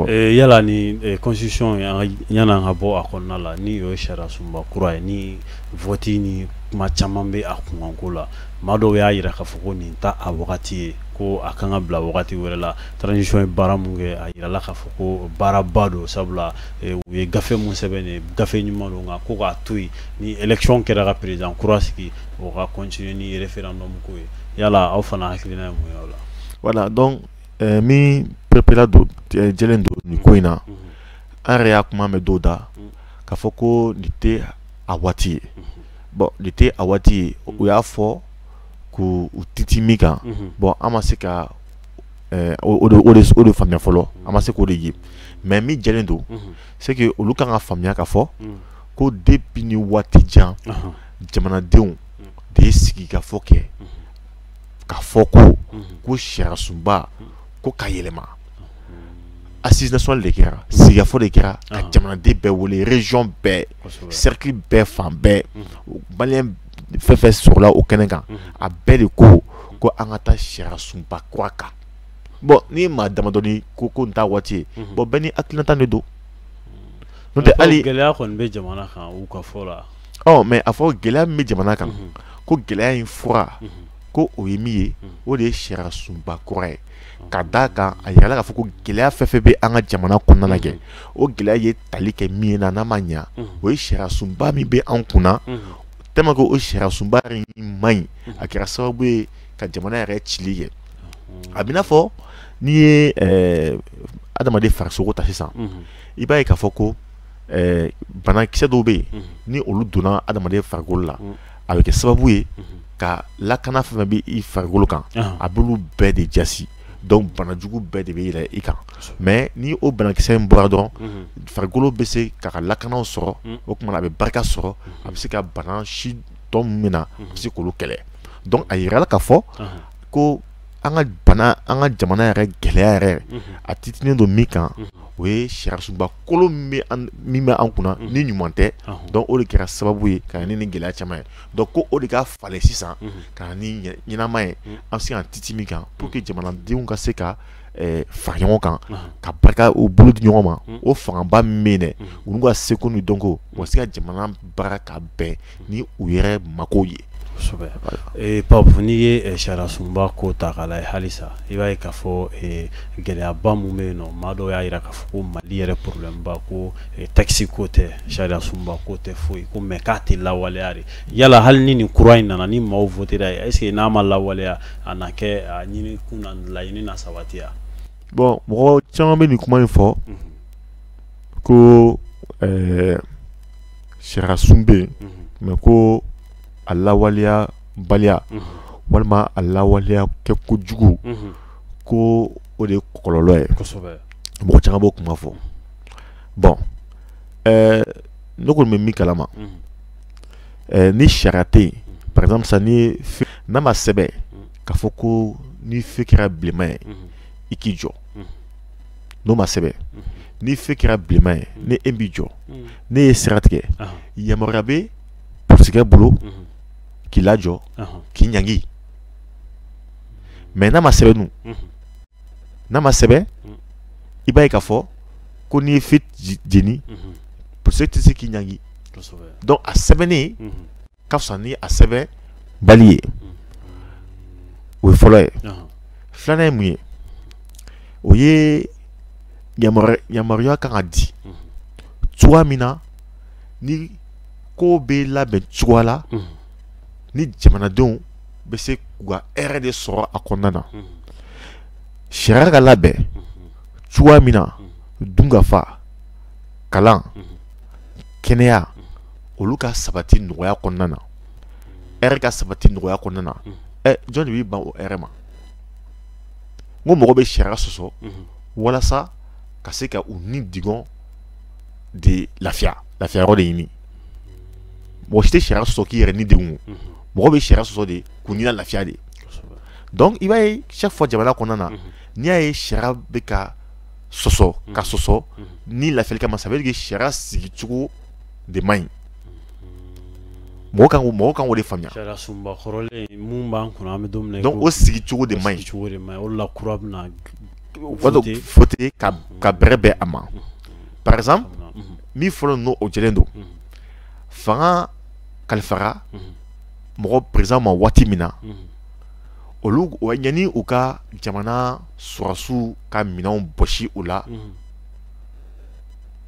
yala ni constitution yann'an ka bɔ a kɔnɔna la n'o ye sariya sunba kura ye ni vote ni kuma caman bɛ a kunkanko la maa dɔw y'a jira k'a fɔ ko nin t'a wagati ye ko a kan ka bila wagati wɛrɛ la transition ye baara min kɛ a jirala k'a fɔ ko baaraba don sabula u ye gafe min sɛbɛn nin gafe ɲuman don nka ko k'a to yen ni élection kɛra ka président kura sigi o ka continuer ni référendum ko ye yala aw fana hakilina ye mun ye o la voilà donc ɛɛ min perepere don jɛlen don nin ko in na an yɛrɛ y'a kuma mɛn dɔw da k'a fɔ ko nin tɛ a waati ye bon nin tɛ a waati ye u y'a fɔ k' u titi min kan bon an ma se ka o de faamuya fɔlɔ an ma se k'o de ye mais min jɛlen don c'est que olu kan ka faamuya k'a fɔ ko depuis ni waati jan jamanadenw de ye sigikafɔ kɛ k'a fɔ ko ko sariya sunba ko ka yɛlɛma assises nationales de kɛra sigikafɔ de kɛra ka jamanaden bɛɛ wele région bɛɛ cercle bɛɛ fan bɛɛ malien fɛn fɛn sɔrɔla o kɛnɛ kan a bɛɛ de ko ko an ka taa sariya sunba kura kan bon ni maa damadɔni ko nin t'a waati ye bon bɛɛ ni a hakilinata de don n'o tɛ hali gɛlɛya kɔni bɛ jamana kan u ka fɔ la mais a fɔ gɛlɛya min bɛ jamana kan ko gɛlɛya in fura ko o ye min ye o de ye sariya sunba kura ye ka d'a kan a yirala k'a fɔ ko gɛlɛya fɛn fɛn bɛ an ka jamana kɔnɔna na kɛ o gɛlɛya ye tali kɛ min na n'a ma ɲa o ye sariya sunba min bɛ an kunna tellement que o sariya sunba in man ɲi a kɛra sababu ye ka jamana yɛrɛ cili kɛ a bɛ n'a fɔ n'i ye adamaden farisogo ta sisan i b'a ye k'a fɔ ko ɛɛ banakisɛ dɔw bɛ yen ni olu donna adamaden farikolo la a bɛ kɛ sababu ye ka lakana fɛn fɛn bɛ i farikolo kan a b'olu bɛɛ de jaasi donc banajugu bɛɛ de bɛ yɛlɛ i kan mais ni o banakisɛ in bɔra dɔrɔn farikolo bɛ se k'a ka lakanaw sɔrɔ o tuma a bɛ barika sɔrɔ a bɛ se ka bana si tɔ min na a bɛ se k'olu kɛlɛ donc a yirala k'a fɔ ko an ka bana an ka jamana yɛrɛ gɛlɛya yɛrɛ a titinen don min kan o ye sariya sunba kolon min bɛ an kunna ni ɲuman tɛ donc o de kɛra sababu ye ka na ni nin gɛlɛya caman ye donc ko o de ka falen sisan ka na ni ɲɛnama ye an bɛ se ka titi min kan pour que jamanadenw ka se ka fara ɲɔgɔn kan ka barika u bolo di ɲɔgɔn ma o fangaba min bɛ yen dɛ olu ka seko ni dɔnko u ka se ka jamana baara ka bɛn ni u yɛrɛ mako ye pape n'i ye sariya sunba ko ta k'a lajɛ halisa i b'a ye k'a fɔ gɛlɛyaba minnu bɛ yen nɔ maa dɔw y'a jira k'a fɔ ko mali yɛrɛ problème ba ko texte ko tɛ sariya sunba ko tɛ foyi ko mais k'a tɛ lawaleya de yala hali ni nin kura in nana ni maaw votera a ye est-ce que n'a ma lawaleya a na kɛ a ɲini kun na laɲini na sabatiya bon mɔgɔ caman bɛ nin kuma in fɔ mhm. ko ɛɛ eh, sariyasun bɛ yen mhm. mais ko a lawaleya baliya mhm. walima a lawaleya kɛko jugu ko o de ye kɔlɔlɔ ye mɔgɔ caman b'o kuma fɔ bon ɛɛ eh, ne kɔni bɛ min kalama eh, ni sariya tɛ yen par exemple sisan ni n'a ma sɛbɛn k'a fɔ ko ni feu kɛra bilenma ye i k'i jɔ n'o ma sɛbɛn ni feu kɛra bilenma ye ni e m'i jɔ n'e ye sira tigɛ yamaruya bɛ polisikɛ bolo k'i lajɔ k'i ɲangi mais n'a ma sɛbɛn dun n'a ma sɛbɛn i b'a ye k'a fɔ ko n'i ye feu jeni polisikɛ tɛ se k'i ɲangi donc a sɛbɛnnen ka fisa ni a sɛbɛnbali ye o ye fɔlɔ ye filanan ye mun ye o ye yamaruya kan ka di cogoya min na ni ko bɛ labɛn cogoya la ni jamanadenw bɛ se k'u ka hɛrɛ de sɔrɔ a kɔnɔna na sariya ka labɛn cogoya min na dunkafa kalan kɛnɛya olu ka sabati nɔgɔya kɔnɔna na hɛrɛ ka sabati nɔgɔya kɔnɔna na ɛ jɔn de b'i ban o hɛrɛ ma n ko mɔgɔ bɛ sariya sɔsɔ walasa ka se ka u nidungɔ de lafiya lafiya yɔrɔ de ɲini mɔgɔ si tɛ sariya sɔsɔ k'i yɛrɛ ni degun mɔgɔ bɛ sariya sɔsɔ de k'u ni lafiya de donc i b'a ye chaque fois jamana kɔnɔna na n'i y'a ye sariya bɛ ka sɔsɔ ka sɔsɔ ni lafiyali kama ça veut dire que sariya sigicogo de man ɲi mɔgɔ kan ko mɔgɔ kan k'o de faamuya sariyasunba kɔrɔlen min b'an kunna an bɛ don min na donc o sigicogo de man ɲi sigicogo de man ɲi o de la kura bɛna wato faut ka ka bɛrɛ bɛn a ma par exemple min fɔlɔ n'o o jɛlen don fanga kalifara mɔgɔ président ma waati min na olu wa yanni u ka jamana sɔrɔsiw ka minɛnw bɔsi u la mhm.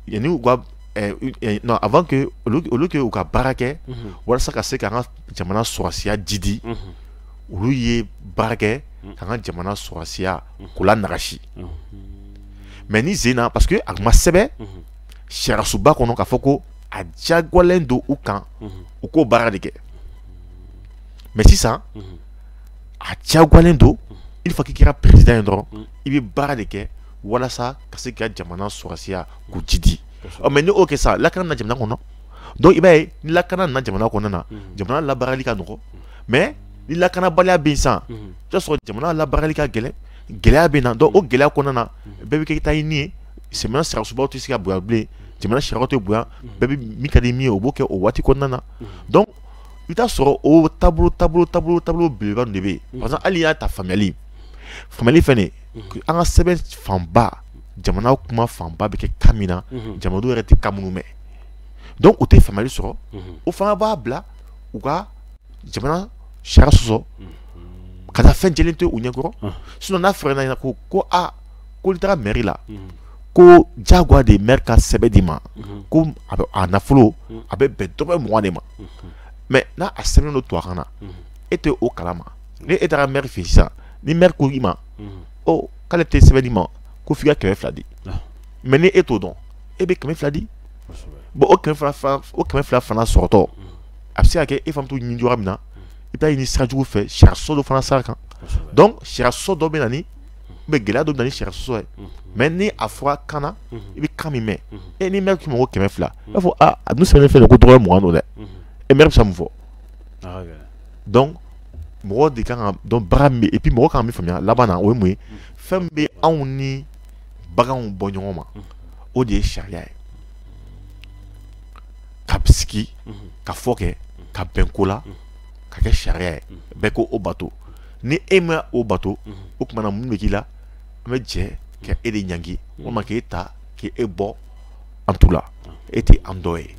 yanni u ka eh, eh, non avant que olu olu k'u ka baara kɛ mhm. walasa ka se k'an ka jamana sɔrɔsiya jidi mhm. olu ye baara kɛ k'an ka jamana sɔrɔsiya k'o lanagasi mais ni zen na parce que a ma sɛbɛn sariyasunba kɔnɔ k'a fɔ ko a diyagoyalen don u kan u k'o baara de kɛ mais sisan a diyagoyalen don il faut k'i kɛra président ye dɔrɔn i bɛ baara de kɛ walasa ka se ka jamana sɔrɔsiya k'o jidi mais n'o kɛ sa lakana na jamana kɔnɔ donc i b'a ye ni lakana na jamana kɔnɔ na jamana labaarali ka nɔgɔ mais ni lakanabaliya bɛ yen sisan i b'a sɔrɔ jamana labaarali ka gɛlɛn gɛlɛya bɛ na o gɛlɛya kɔnɔna na bɛɛ bɛ kɛ taa ɲini ye sɛ sariyasunba tɛ se ka bonya yan bilen jamana sariyaw tɛ bonya bɛɛ bɛ min ka di min ye o b'o kɛ o waati kɔnɔna na i bɛ t'a sɔrɔ o taabolo belebeleba ninnu de bɛ yen mm. par exemple hali y'a ta faamuyali fɛnɛ mm-hmm. an ka sɛbɛn fanba jamana kuma fanba bɛ kɛ kan min na mm-hmm. jamanadenw yɛrɛ tɛ kan minnu mɛn donc u tɛ faamuyali sɔrɔ mm-hmm. o fana b'a bila u ka jamana sariya sɔsɔ ka taa fɛn jɛlen to u ɲɛkɔrɔ ah. sinon n'a fɔra ɲɛna ko ko a ah, ko n'i taara mɛri la ko jagoya de ye mɛri ka sɛbɛn d'i ma ko a nafolo a bɛ bɛn dɔrɔmɛ mugan de ma mais n'a a sɛbɛnnen don tubabukan na e tɛ o kalama ni e taara mɛri fɛ sisan ni mɛri ko i ma ɔ k'ale tɛ sɛbɛn d'i ma ko f'i ka kɛmɛ fila di mais ni e t'o dɔn e bɛ kɛmɛ fila di bon o kɛmɛ fila fana sɔrɔtɔ a bɛ se ka kɛ e fana t'o ɲini cogoya min na i bɛ t'a ɲini sira jugu fɛ sariya sɔsɔ dɔ fana sira kan donc sariya sɔsɔ dɔ bɛ na ni bɛ gɛlɛya dɔ bɛ na ni sariya sɔsɔ ye mais ni a fɔra kan na i bɛ kan min mɛn e ni mɛri k'i ma ko kɛmɛ fila i b'a fɔ aa a dun sɛbɛnnen filɛ nin ko dɔrɔmɛ mugan don dɛ e mɛri bɛ se ka mun fɔ donc mɔgɔ de kan ka dɔn baara min bɛ et puis mɔgɔ kan ka min faamuya laban na o ye mun ye fɛn min bɛ anw ni baganw bɔ ɲɔgɔn ma o de ye sariya ye ka sigikafɔ kɛ ka bɛn ko la ka kɛ sariya ye bɛɛ ko o bato ni e ma o bato o tuma na mun bɛ k'i la an bɛ jɛ ka e de ɲangi walima k'e ta k'e bɔ an tu la e tɛ an dɔ ye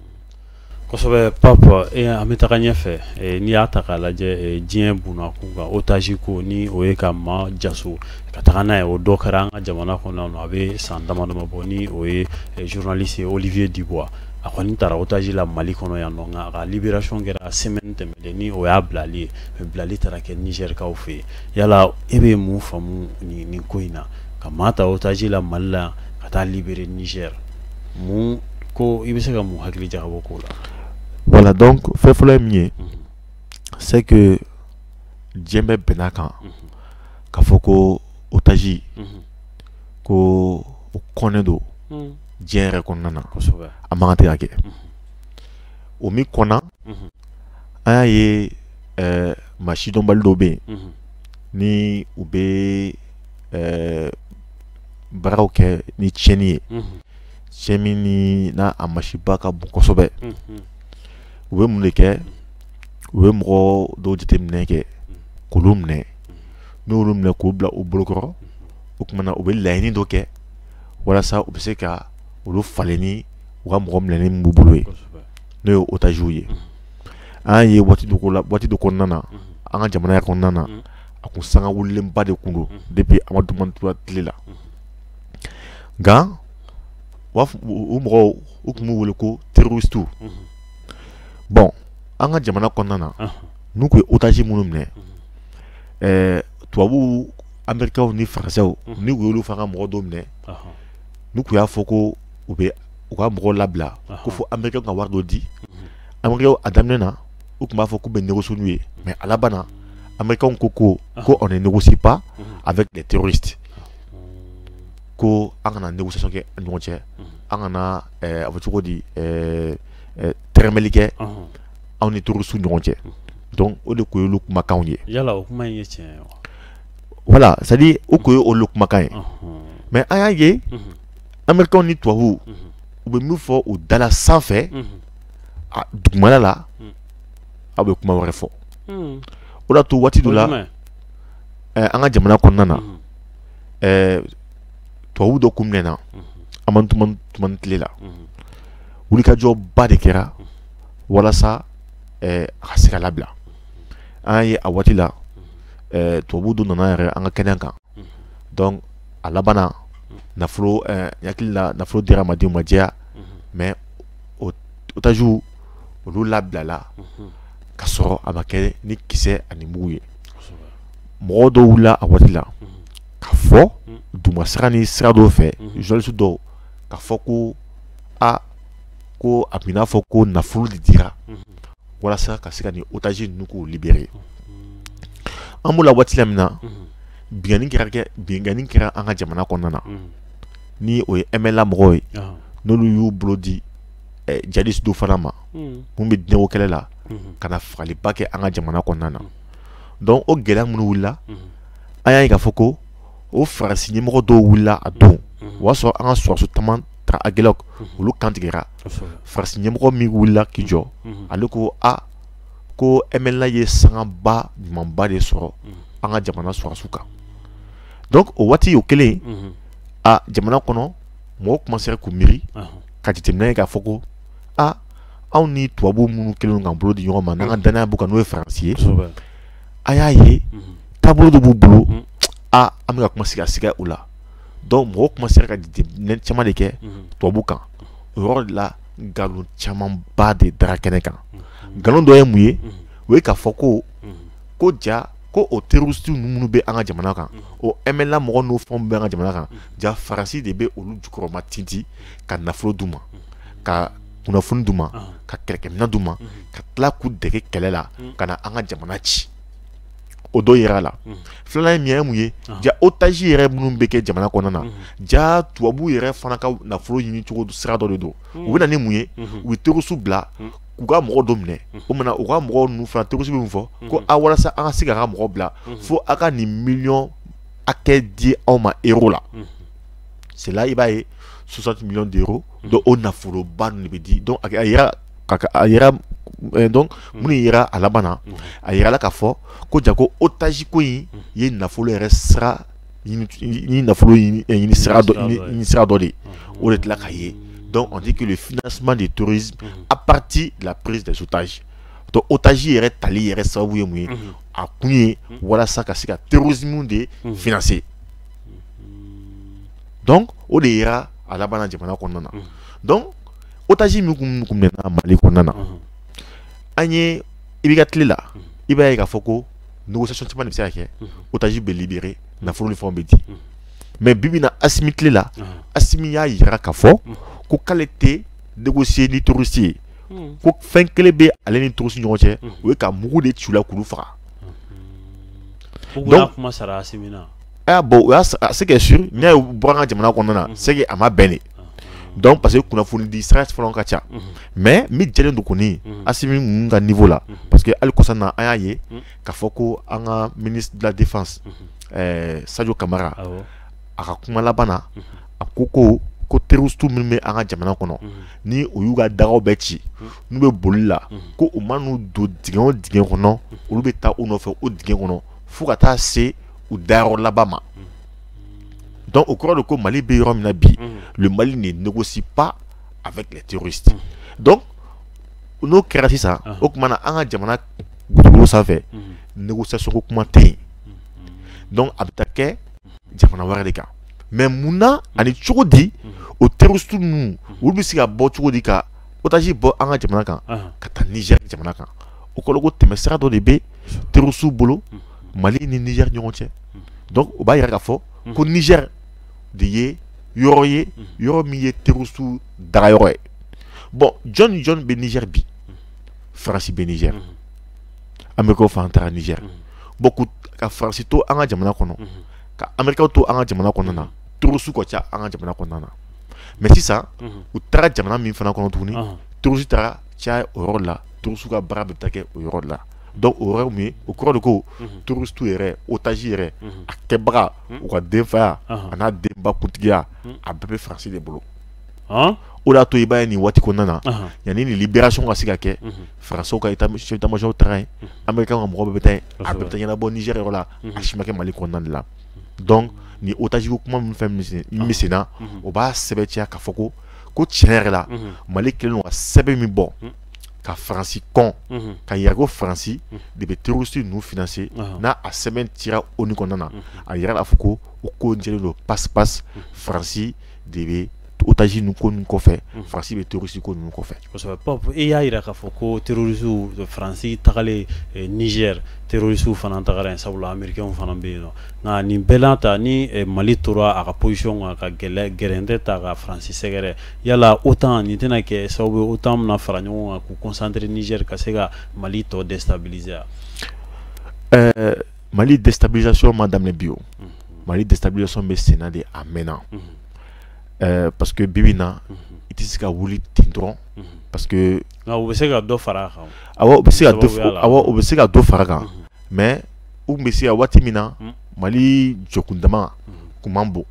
kosɛbɛ Pape e an bɛ taga ɲɛfɛ n'i y'a ta k'a lajɛ diɲɛ bunakun kan otaji ko ni o ye ka maa jaso ka taga n'a ye o dɔ kɛra an ka jamana kɔnɔ a bɛ san damadama bɔ ni o ye journaliste Olivier Dubois a kɔni taara otaji la mali kɔnɔ yan nɔ nka a ka libération kɛra semaine tɛmɛnen ni o y'a bilali ye bilali taara kɛ nizɛrikaw fɛ yen yala e bɛ mun faamu nin ko in na ka maa ta otaji la mali la ka taa libere nizɛr mun ko i bɛ se ka mun hakili jagabɔ k'o la voilà donc fɛn fɔlɔ ye min ye mhm. c'est que diɲɛ bɛɛ bɛnn'a kan mhm. k'a fɔ ko otaji mhm. ko o kɔnnen don diɲɛ yɛrɛ kɔnɔna na a man kan tɛ ka kɛ o min kɔnna an y'a ye eh, maa sidɔnbali dɔw bɛ yen ni u bɛ eh, baaraw kɛ ni tiɲɛni ye tiɲɛ min ni n'a a masiba ka bon kosɛbɛ u bɛ mun de kɛ u bɛ mɔgɔ dɔw jateminɛ kɛ k'olu minɛ n'olu minɛ k'u bila u bolokɔrɔ o tuma na u bɛ laɲini dɔ kɛ walasa u bɛ se ka olu falen ni u ka mɔgɔ minɛnen min b'u bolo ye n'o ye otages ye an y'a ye waati dɔ la waati dɔ kɔnɔna na an ka jamana kɔnɔna na a kun sanga wulilenba de kun don depuis amadu tumani tile la nka o mɔgɔw u tun b'u wele ko terroristes bon an ka jamana kɔnɔna na n'u kun ye otage minnu minɛ tubabuw américains ni français n'u kun y'olu fana ka mɔgɔ dɔw minɛ n'u kun y'a fɔ ko u bɛ u ka mɔgɔw labila ko fɔ américains ka wari dɔ di an a daminɛ na u tun b'a fɔ k'u bɛ négocier n'u ye mais a laban na américains ko ko ko on ne négocie pas avec les terroristes ko an kana négociation kɛ ɲɔgɔn cɛ an kana eh, a fɔ cogo di eh, eh, tɛrɛmɛli kɛ anw ni terroristes ɲɔgɔn cɛ donc o de kun ye olu kumakan ye yala o kuma ye tiɲɛ voilà c'est à dire o kun ye olu kumakan ye mais an y'a ye américains ni tubabuw u bɛ min fɔ u da la sanfɛ dugumala la aw bɛ kuma wɛrɛ fɔ o de y'a to waati dɔ la an ka jamana kɔnɔna na tubabu dɔ kun minɛna amadu tumani tile la wulikajɔba de kɛra walasa a ka se ka labila an y'a ye a waati la eh, tubabu dɔ nana yɛrɛ an ka kɛnɛ kan mhm. donc a laban na mhm. nafolo eh, hakili la nafolo dira a ma di a ma jɛya mais otages olu labilala ka sɔrɔ a ma kɛ ni kisɛ ani mugu ye mɔgɔ dɔw wulila a waati la ka fɔ duguma sira ni sira dɔw fɛ journaliste dɔw ka fɔ ko a ko a bɛ n'a fɔ ko nafolo de dira walasa ka se ka nin otage ninnu k'u libérer an b'o la waati la min na binani kɛra kɛ binkanni kɛra an ka jamana kɔnɔna na ni o ye mla mɔgɔw ye n'olu y'u bolo di eh, jihadiste dɔw fana ma minnu bɛ diinɛko kɛlɛ la ka na fagaliba kɛ an ka jamana kɔnɔna na donc o gɛlɛya minnu wulila an y'a ye k'a fɔ ko o faransi ɲɛmɔgɔ dɔw wulila a don o y'a sɔrɔ an ka sɔrɔdasi caman taara aguelhok olu kantigɛra faransi ɲɛmɔgɔ min wulila k'i jɔ mhm. ale ko a ko mla ye sangaba ɲumanba de sɔrɔ mhm. an ka jamana sɔrɔdasiw kan donc o waati o kɛlen mhm. a jamana kɔnɔ mɔgɔw commencera k'u miiri ka jateminɛ ye k'a fɔ ko a anw ni tubabu minnu kɛlen k'an bolo di ɲɔgɔn ma n'an ka danaya b'u kan n'o ye faransi ye a y'a ye taabolo dɔ b'u bolo a an bɛ ka commencer ka siga u la donc mɔgɔw commencera ka jateminɛ caman de kɛ tubabu kan o yɔrɔ de la nkalon camanba de dara kɛnɛ kan nkalon dɔ ye mun ye o ye k'a fɔ ko ko ja ko o terroristes minnu bɛ an ka jamana kan o MNLA mɔgɔ n'o fɛnw bɛ an ka jamana kan ja faransi de bɛ olu jukɔrɔma tinti ka nafolo d'u ma ka kunnafoni d'u ma ka kɛlɛkɛminɛn d'u ma ka tila k'u dege kɛlɛ la ka na an ka jamana ci o dɔ yera a la mhm. filanan ye min ye mun ye ah. ja otage yɛrɛ minnu bɛ kɛ jamana kɔnɔna na mhm. ja tubabu yɛrɛ fana ka nafolo ɲini cogo sira dɔ de don mhm. u bɛ na ni mun ye u bɛ terroristes bila k'u ka mɔgɔ dɔ minɛ o mana u ka mɔgɔ ninnu fana terroristes bɛ mun fɔ ko a walasa an ka se k'a ka mɔgɔ bila fo a ka nin miliyɔn hakɛ di anw ma euro la c'est là i b'a ye 60 millions d'euros donc o nafoloba ninnu de bɛ di donc a yira ka a yɛrɛ eh, donc hmm. minnu yera a laban na hmm. a yirala k'a fɔ ko ja ko otage ko in hmm. ye nafolo yɛrɛ sira ni nafolo ɲini eh, sira dɔ de o de tila ka ye donc on dit que le financement du terrorisme à partir de la prise des otages donc otage yɛrɛ tali yɛrɛ sababu ye mun ye a kun ye walasa ka se ka terrorisme de financer donc o de yera a laban na jamana kɔnɔna na donc otage min kun kun minɛna mali kɔnɔna na an ye IBK tile la i b'a ye k'a fɔ ko négociation caman de bɛ se ka kɛ otage bɛ libéré nafolo ni fɛnw bɛ di mais bibi na asimi tile la asimi y'a yira k'a fɔ ko k'ale tɛ négocier ni terroriste ye ko fɛn kelen bɛ ale ni terroriste ɲɔgɔn cɛ o ye ka mugu de ci u la k'olu faga donc kuma sara asimi na ah bon o y'a c'est que sûr n'i y'a ye bɔra an ka jamana kɔnɔna na c'est que a ma bɛn de donc parce que kunnafoni di sira fana ka ca mais min jɛlen don kɔni asimi ninnu ka niveau la parce que hali kɔsa na an y'a ye k'a fɔ ko an ka ministre de la défense sajo kamara a ka kuma laban na a ko ko terroristes minnu bɛ an ka jamana kɔnɔ ni u y'u ka dagaw bɛɛ ci n'u bɛ boli la ko u mana don dingɛ o dingɛ kɔnɔ olu bɛ taa u nɔfɛ o dingɛ kɔnɔ fo ka taa se u dayɔrɔ laban ma donc o kɔrɔ de ko mali bɛ yɔrɔ min na bi le mali ne négocie pas avec les terroristes donc n'o kɛra sisan o tuma na an ka jamana dugukolo sanfɛ négociation ko kuma tɛ yen donc a bɛ taa kɛ jamana wɛrɛ de kan mais mun na ani cogo di o terroristes ninnu olu bɛ se ka bɔ cogo di ka otage bɔ an ka jamana kan ka taa niger jamana kan o kɔrɔ ko tɛmɛsira dɔ de bɛ terroristes bolo mali ni niger ɲɔgɔn cɛ donc o b'a yira k'a fɔ ko niger de ye yɔrɔ ye yɔrɔ min ye terroristu dagayɔrɔ ye bon jɔn ni jɔn bɛ niger bi faransi bɛ niger amerika fana taara niger bon ka faransi to an ka jamana kɔnɔ ka amerikaw to an ka jamana kɔnɔna na terroristu ka ca an ka jamana kɔnɔna na mais sisan u taara jamana min fana kɔnɔ tuguni terroristu taara caya o yɔrɔ la terroristu ka baara bɛ taa kɛ o yɔrɔ la donc o yɔrɔ min ye o kɔrɔ de ko terroristu yɛrɛ otage yɛrɛ a kɛbagaw ka denfaya a n'a denba kuntigiya a bɛɛ bɛ faransi de bolo o y'a to i b'a ye nin waati kɔnɔna na yanni nin libération ka se ka kɛ faransi ka chef d'état-major taara yen amerika ka mɔgɔ bɛ taa a bɛɛ bɛ taa ɲɛnabɔ niger yɔrɔ la a si ma kɛ mali kɔnɔna la donc ni otage kuma min fɛn min na o b'a sɛbɛntiya k'a fɔ ko ko tiɲɛ yɛrɛ la mali kɛlen ka sɛbɛn min bɔ ka faransi kɔn mhm. ka yira ko faransi mhm. de bɛ terroriste ninnu financer n'a a sɛbɛn cira ONU kɔnɔna na mhm. a yirala k'a fɔ ko o ko in jɛlen don parce que faransi de bɛ otage ninnu ko ninnu kɔfɛ faransi bɛ terroriste ko ninnu kɔfɛ. kosɛbɛ Pap i y'a yira k'a fɔ ko terrorisiw faransi tagalen eh, niger terrorisiw fana tagara yen sabula amerikɛnw fana bɛ yen nɔ nka nin bɛɛ n'a ta ni eh, mali tora a ka position kan ka gɛlɛ gɛrɛntɛ ta ka faransi sɛgɛrɛ Yala OTAN nin tɛna kɛ sababu ye OTAN bɛna fara ɲɔgɔn kan k'u concentrer niger ka se ka mali tɔ déstabiliser ɛɛ mali déstabilisation ma daminɛ bi o mali déstabilisation bɛ sen na de a mɛnna ɛɛ parce que bibi na i tɛ se ka wuli ten dɔrɔn parce que u bɛ se ka dɔ fara a kan bɛ se o bɛ se ka dɔ fara a kan mais u tun bɛ se ka waati min na mali jɔkundama tun man bon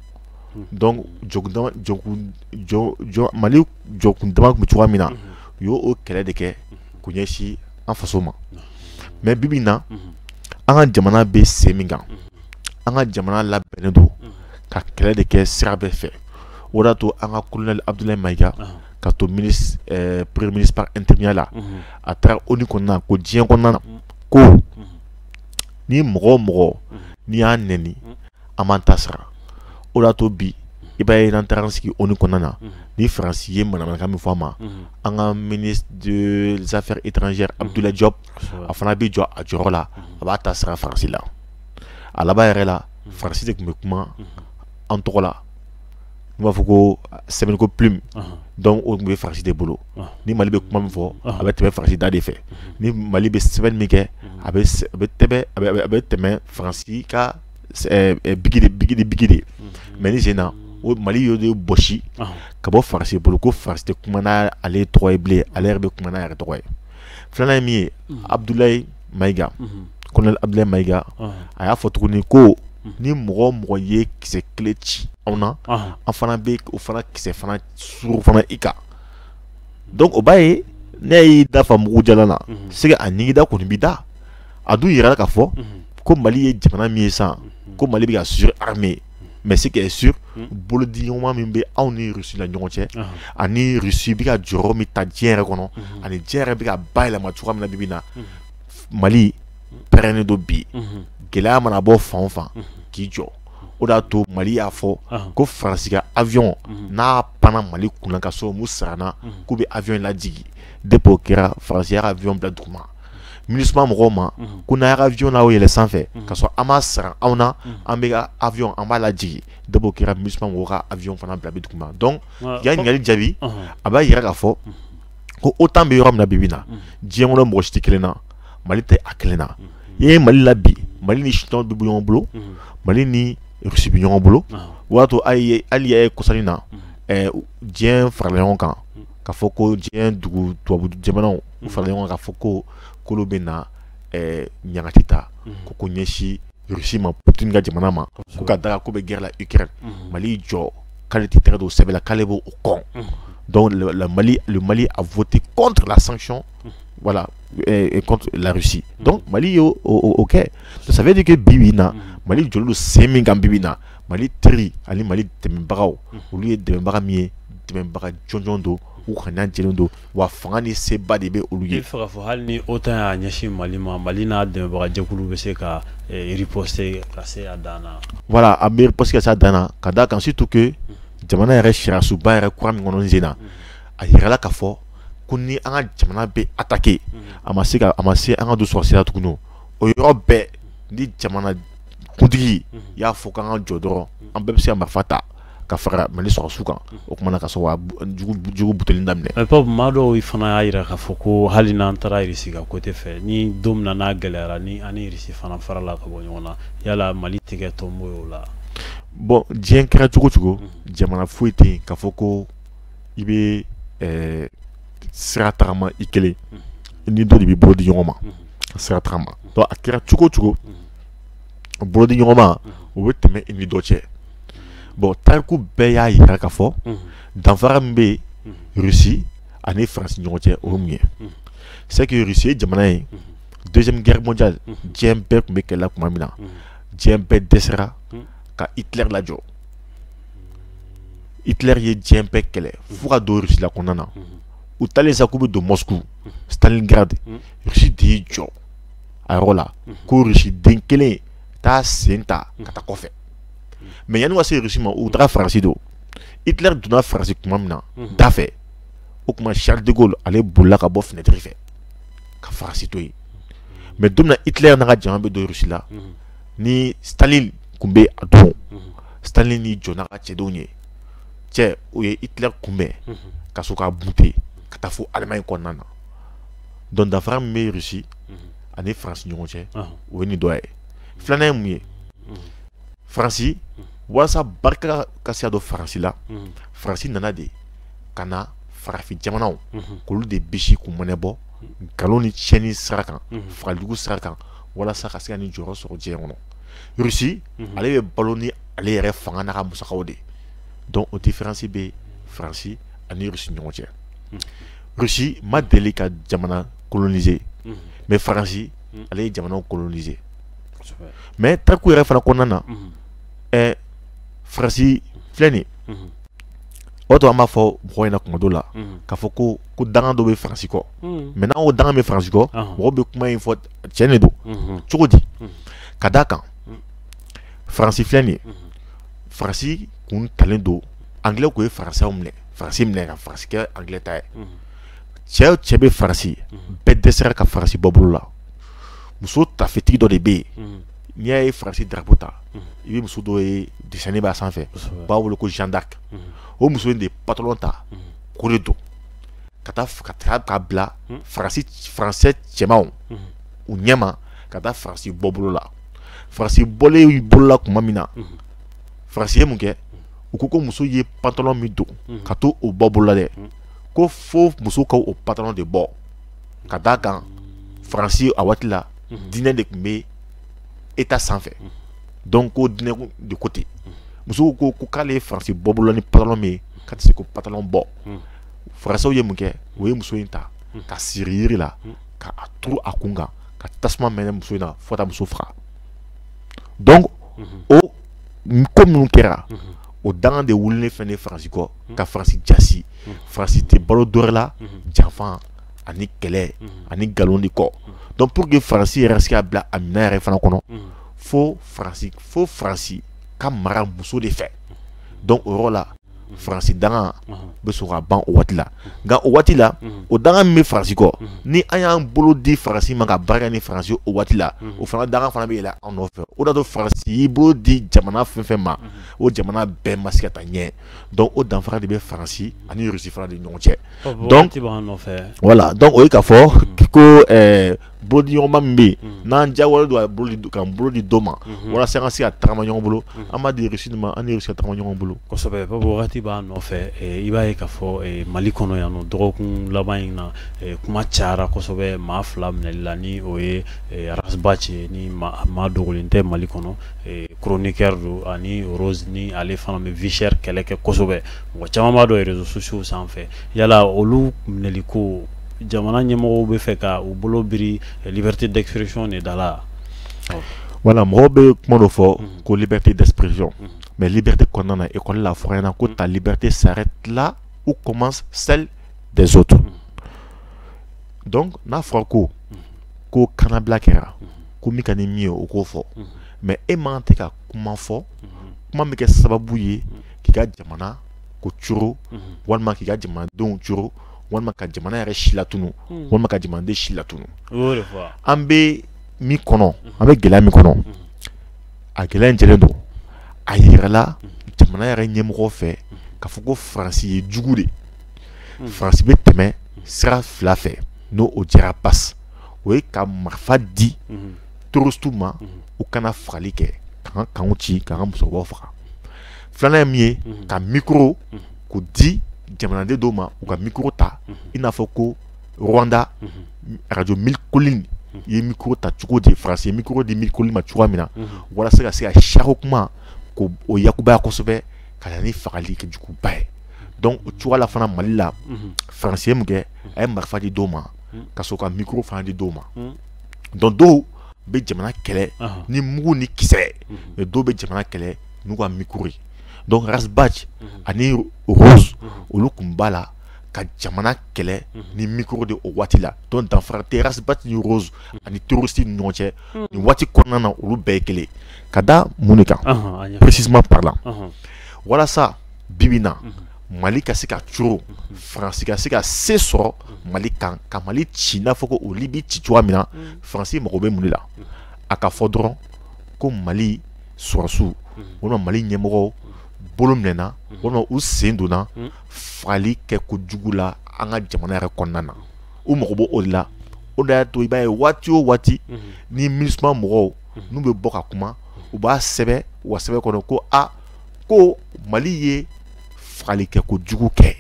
mali jɔkun dama bɛ cogoya min na u y'o kɛlɛ de kɛ k'u ɲɛsin an faso ma mais bibi na an ka jamana bɛ sen min kan an ka jamana labɛnnen don ka kɛlɛ de kɛ sira bɛɛ fɛ o de y'a to an ka colonel abdoulaye maïga ka to premier ministre par intérimya la a taara ONU kɔnɔna ko diɲɛ kɔnɔna ko ni mɔgɔ o mɔgɔ n'i y'a n an b'an ta sara o de y'a to bi i b'a ye n'an taara an sigi ONU kɔnɔna na mhm. ni Faransi ye manamanakan min fɔ an ma mhm. an ka ministre des affaires étrangères mhm. Abdoulaye Diop a fana bɛ jɔ a jɔyɔrɔ la a b'a ta sara Faransi la a laban yɛrɛ la Faransi de tun bɛ kuma an tɔgɔ la n b'a fɔ ko sɛbɛnniko plume donc o tun bɛ Faransi de bolo ni Mali bɛ kuma min fɔ a bɛ tɛmɛ Faransi da de fɛ ni Mali bɛ sɛbɛnni min kɛ a bɛ tɛmɛ a bɛ tɛmɛ Faransi ka biki de mais nin sen na o mali y'o de bɔsi ka bɔ faransi bolo ko faransi tɛ kuma n'ale tɔgɔ ye bilen ale yɛrɛ bɛ kuma n'a yɛrɛ tɔgɔ ye filanan ye min ye abudulayi mayiga colonel abudulayi mayiga a y'a fɔ tuguni ko ni mɔgɔ o mɔgɔ ye kisɛ kelen ci anw na an fana bɛ o fana kisɛ fana suuru fana i kan donc o b'a ye n'e y'i da fa mugu jalan na se a ɲigida kɔni b'i da a dun jira k'a fɔ ko mali ye jamana min ye sisan ko mali bɛ ka surarmer mais ce qui est sûr bolodi ɲɔgɔnma min bɛ anw ni rusi la ɲɔgɔn cɛ ani rusi bɛ ka jɔyɔrɔ min ta diɲɛ yɛrɛ kɔnɔ ani diɲɛ yɛrɛ bɛ ka bayɛlɛma cogoya min na bibi na mali pɛrɛnnen don bi gɛlɛya mana bɔ fan o fan k'i jɔ o de y'a to mali y'a fɔ ko faransi ka avion n'a pan mali kunna ka sɔrɔ u m'u sara an na k'u bɛ avion in lajigi depuis o kɛra faransi y'a ka avion bila dugu ma minusma mɔgɔw ma ko n'aw ka avion n'aw yɛlɛ sanfɛ ka sɔrɔ aw m'aw sara anw na an b'aw ka avion an b'a lajigi depuis o kɛra minusma mɔgɔw ka avion fana bila dugu ma donc y'a ɲininkali jaabi a b'a jira k'a fɔ ko otan bɛ yɔrɔ min na bibi na diɲɛ kɔnɔ mɔgɔ si t'i kelen na mali tɛ a kelen na i ye mali la bi mali ni chine bɛ ɲɔgɔn bolo mali ni rusi bɛ ɲɔgɔn bolo o y'a to hali i ye kɔsa in na diɲɛ farala ɲɔgɔn kan k'a fɔ ko diɲɛ dugu tubabu jamanaw u fara ɲɔgɔn kan k'a fɔ ko k'olu bɛ na ɲagati ta ko k'o ɲɛsin rusi ma poutine ka jamana ma ko ka d'a kan k'o bɛ guerre la ukraine mali jɔ k'ale tɛ tɛgɛ don sɛbɛn la k'ale b'o kɔn donc le mali a voté contre la sanction voilà contre la russie donc mali ye o kɛ ça veut dire que bibi na mali jɔlen don sen min kan bibi na mali teri ani mali dɛmɛbagaw olu ye dɛmɛbaga min ye dɛmɛbaga jɔnjɔn don u ŋaniya jɛlen don wa fanga ni seba de bɛ olu ye il faut que hali ni otan y'a ɲɛsin mali ma mali n'a dɛmɛbagajɛkulu bɛ se ka eh, riposter ka se a dan na voilà a bɛ riposter ka se a dan na ka d'a kan surtout que jamana yɛrɛ sariyasunba yɛrɛ kura min kɔnɔ nin sen na a yirala k'a fɔ ko ni an ka jamana bɛ attaquer a ma se ka a ma se an ka don sɔrɔsiya la tuguni o yɔrɔ bɛɛ ni jamana kuntigi y'a fɔ k'an ka jɔ dɔrɔn an bɛɛ bɛ se ka marifa ta ka fara mali sɔrɔsiw kan o tuma na ka sɔrɔ jugu buteli daminɛ ɛpɔ maa dɔw fana y'a jira k'a fɔ ko hali n'an taara irisi ka côté fɛ ni don min na n'a gɛlɛyara ni an ni irisi fana farala ka bɔ ɲɔgɔn na yala mali tigɛ tɔnbo y'o la bon diɲɛ kɛra cogo o cogo jamana foyi tɛ yen k'a fɔ ko i bɛ eh, sira tagama i kelen ni dɔ de bɛ bolo di ɲɔgɔn ma ka sira tagama a kɛra cogo o cogo bolodi ɲɔgɔnma o bɛ tɛmɛ i ni dɔ cɛ bon tariku bɛɛ y'a yira k'a fɔ danfara min bɛ rusi ani faransi ɲɔgɔn cɛ o ye mun ye c'est que rusi ye jamana ye deuxième guerre mondiale diɲɛ bɛɛ tun bɛ kɛlɛ tuma min na diɲɛ bɛɛ dɛsɛra ka Hitler lajɔ Hitler ye diɲɛ bɛɛ kɛlɛ fo ka don Russie la kɔnɔna na u taalen sa k'u bɛ don Moscou Stalingrad Russie de y'i jɔ a yɔrɔ la ko rusi den kelen t'a sen ta ka taa kɔfɛ mais yanni ka se rusi ma u taara faransi don Hitler donna faransi tuma min na da fɛ o tuma Charles de Gaulle ale bolila ka bɔ finɛtiri fɛ ka faransi to yen mais don min na Hitler n'a ka jama bɛ don rusi la ni Staline tun bɛ a don Staline y'i jɔ n'a ka cɛdenw ye cɛ o ye Hitler kunbɛn ka sɔrɔ k'a bute ka taa fo Allemagne kɔnɔna na donc danfara min bɛ rusi ani faransi ɲɔgɔn cɛ o ye nin dɔ ye filanan ye mun ye faransi walasa barika ka se ka don faransi la faransi nana de ka na farafin jamanaw k'olu de bisi k'u mɔnɛ bɔ nkalon ni tiɲɛni sira kan fagalijugu sira kan walasa ka se ka nin jɔyɔrɔ sɔrɔ diɲɛ kɔnɔ rusi ale bɛ balo ni ale yɛrɛ fanga n'a ka musakaw de ye donc o diferansi bɛ faransi ani rusi ɲɔgɔn cɛ Russie ma deli ka jamana kolonise mais faransi ale ye jamana kolonise mais tariku yɛrɛ fana kɔnɔna na ɛ faransi filɛ nin ye o to an b'a fɔ mɔgɔw ɲɛna kuma dɔ la k'a fɔ ko ko danga dɔ bɛ faransi kɔ mais n'an ko danga bɛ faransi kɔ mɔgɔ bɛ kuma in fɔ cɛn de don cogo di ka d' a kan faransi filɛ nin ye faransi kun talen don anglais tun ye faransɛw minɛ faransi minɛ ka faransi kɛ anglais ta ye cɛ o cɛ bɛ faransi bɛɛ dɛsɛra ka faransi bɔ bolo la muso tafetigi dɔ de bɛ yen n'i y'a ye faransi drapeau ta i bɛ muso dɔ ye dessin b'a sanfɛ b'a wele ko Jeanne d'Arc o muso in de ye pantalon ta k'o de don ka taa ka taa k'a bila faransi faransɛ cɛmanw u ɲɛma ka taa faransi bɔ bolo la faransi bɔlen bolola tuma min na faransi ye mun kɛ u ko ko muso ye pantalon min don ka to o bɔ bolola dɛ ko fo muso ka o pantalon de bɔ ka d' a kan faransi a waati la diinɛ de tun bɛ État sanfɛ donc ko diinɛ de ko ten muso ko ko k'ale ye faransi bɔ bolola ni pantalon min ye k'a tɛ se k'o pantalon bɔ faransɛw ye mun kɛ o ye muso in ta ka siri yiri la ka a turu a kun kan ka tasuma mɛnɛ muso in na fo ka taa muso faga donc o ko minnu kɛra o danga de wulilen fɛn ne faransi kɔ ka faransi jasi faransi tɛ balo dɔwɛrɛ la janfa ani kɛlɛ ani nkalon de kɔ donc pour que faransi yɛrɛ se ka bila a minɛn yɛrɛ fana kɔnɔ fo faransi fo faransi ka mara muso de fɛ donc o yɔrɔ la faransi danga bɛ sɔrɔ ka ban o waati la nka o waati la o danga min bɛ faransi kɔ ni an y'an bolo di faransi ma ka baara ni faransi o waati la o fana danga fana bɛ yɛlɛ an nɔfɛ o de y'a to faransi y'i bolo di jamana fɛn fɛn ma o jamana bɛɛ ma se ka taa ɲɛ donc o danfara de bɛ faransi ani russie fana de ɲɔgɔn cɛ donc voilà donc o ye k'a fɔ ko bolodiɲɔgɔnma min bɛ yen mhm. n'an diyagoyalen don a bolo di k'an bolo di dɔ ma mhm. walasa an ka se ka tagama ɲɔgɔn bolo mhm. an b'a di Russie de ma an ni Russie ka tagama ɲɔgɔn bolo. kosɛbɛ Babu wagati b'an nɔfɛ eh, i b'a ye k'a fɔ eh, Mali kɔnɔ yan nɔ dɔgɔkun laban in na eh, kuma cayara kosɛbɛ maa fila minɛli la ni o ye Ras Bath ni maa dogolen tɛ Mali kɔnɔ chroniqueur don ani Rose ni ale fana bɛ vie chère kɛlɛ kɛ kosɛbɛ mɔgɔ caman b'a dɔn réseaux sociaux sanfɛ yala olu minɛli ko jamana ɲɛmɔgɔw bɛ fɛ ka u bolo biri liberté d'expression de da la voilà mɔgɔw bɛ kuma dɔ fɔ mhm. ko liberté d'expression mhm. mais liberté kɔnɔna na école la a fɔra an ɲɛna ko mhm. ta liberté s'arrête là où commence celle des autres donc n'a fɔra ko ko kanabila kɛra ko min ka di min ye o k'o fɔ mais e man tɛ ka kuma fɔ kuma min bɛ kɛ sababu ye k'i ka jamana ko coro walima k'i ka jamanadenw coro walima ka jamana yɛrɛ si latunu hmm. walima ka jamanaden si latunu an bɛ min kɔnɔ an bɛ gɛlɛya min kɔnɔ hmm. a gɛlɛya in jɛlen don a yirala hmm. jamana yɛrɛ ɲɛmɔgɔ fɛ k'a fɔ ko faransi ye jugu de faransi bɛ tɛmɛ sira fila fɛ n'o o jɛra pasi o ye ka marifa di terroristew ma u ka na fagali kɛ k'an ka kanw ci k'an ka musokɔrɔbaw faga filanan ye min ye ka mikoro k'u di jamanaden dɔw ma u ka mikoro ta i n'a fɔ ko rwanda radio mille collines ye mikoro ta cogo di faransi ye mikoro di mille collines ma cogoya min na walasa ka se ka siyako kuma ko o lakunbaya kosɛbɛ ka na ni fagali kɛ juguba ye donc o cogoya la fana mali la faransi ye mun kɛ a ye marifa di dɔw ma ka sɔrɔ ka mikoro fana di dɔw ma donc dɔw bɛ jamana kɛlɛ ni mugu ni kisɛ dɔw bɛ jamana kɛlɛ n'u ka mikoro ye donc ras bath mhm. ani rose mhm. olu kun b'a la ka jamana kɛlɛ mhm. ni micro de o waati la donc danfara tɛ ras bath ni rose ani terroriste ni ɲɔgɔn cɛ nin waati kɔnɔna na olu bɛɛ ye kelen ka da mun de kan précisément parlant walasa bi bi in na mali ka se ka coro faransi ka se ka se sɔrɔ mali kan ka mali ci n'a fɔ ko o libi ci cogoya min na faransi mago bɛ mun de la a ka fɔ dɔrɔn ko mali sɔrɔsiw walima mali ɲɛmɔgɔw bolo minɛna walima u sen donna fagali kɛko jugu la an ka jamana yɛrɛ kɔnɔna na u mago b'o de la o de y'a to i b'a ye waati o waati ni minisuma mɔgɔw n'u bɛ bɔ ka kuma u b'a sɛbɛn u ka sɛbɛn kɔnɔ ko a ko mali ye fagali kɛko jugu kɛ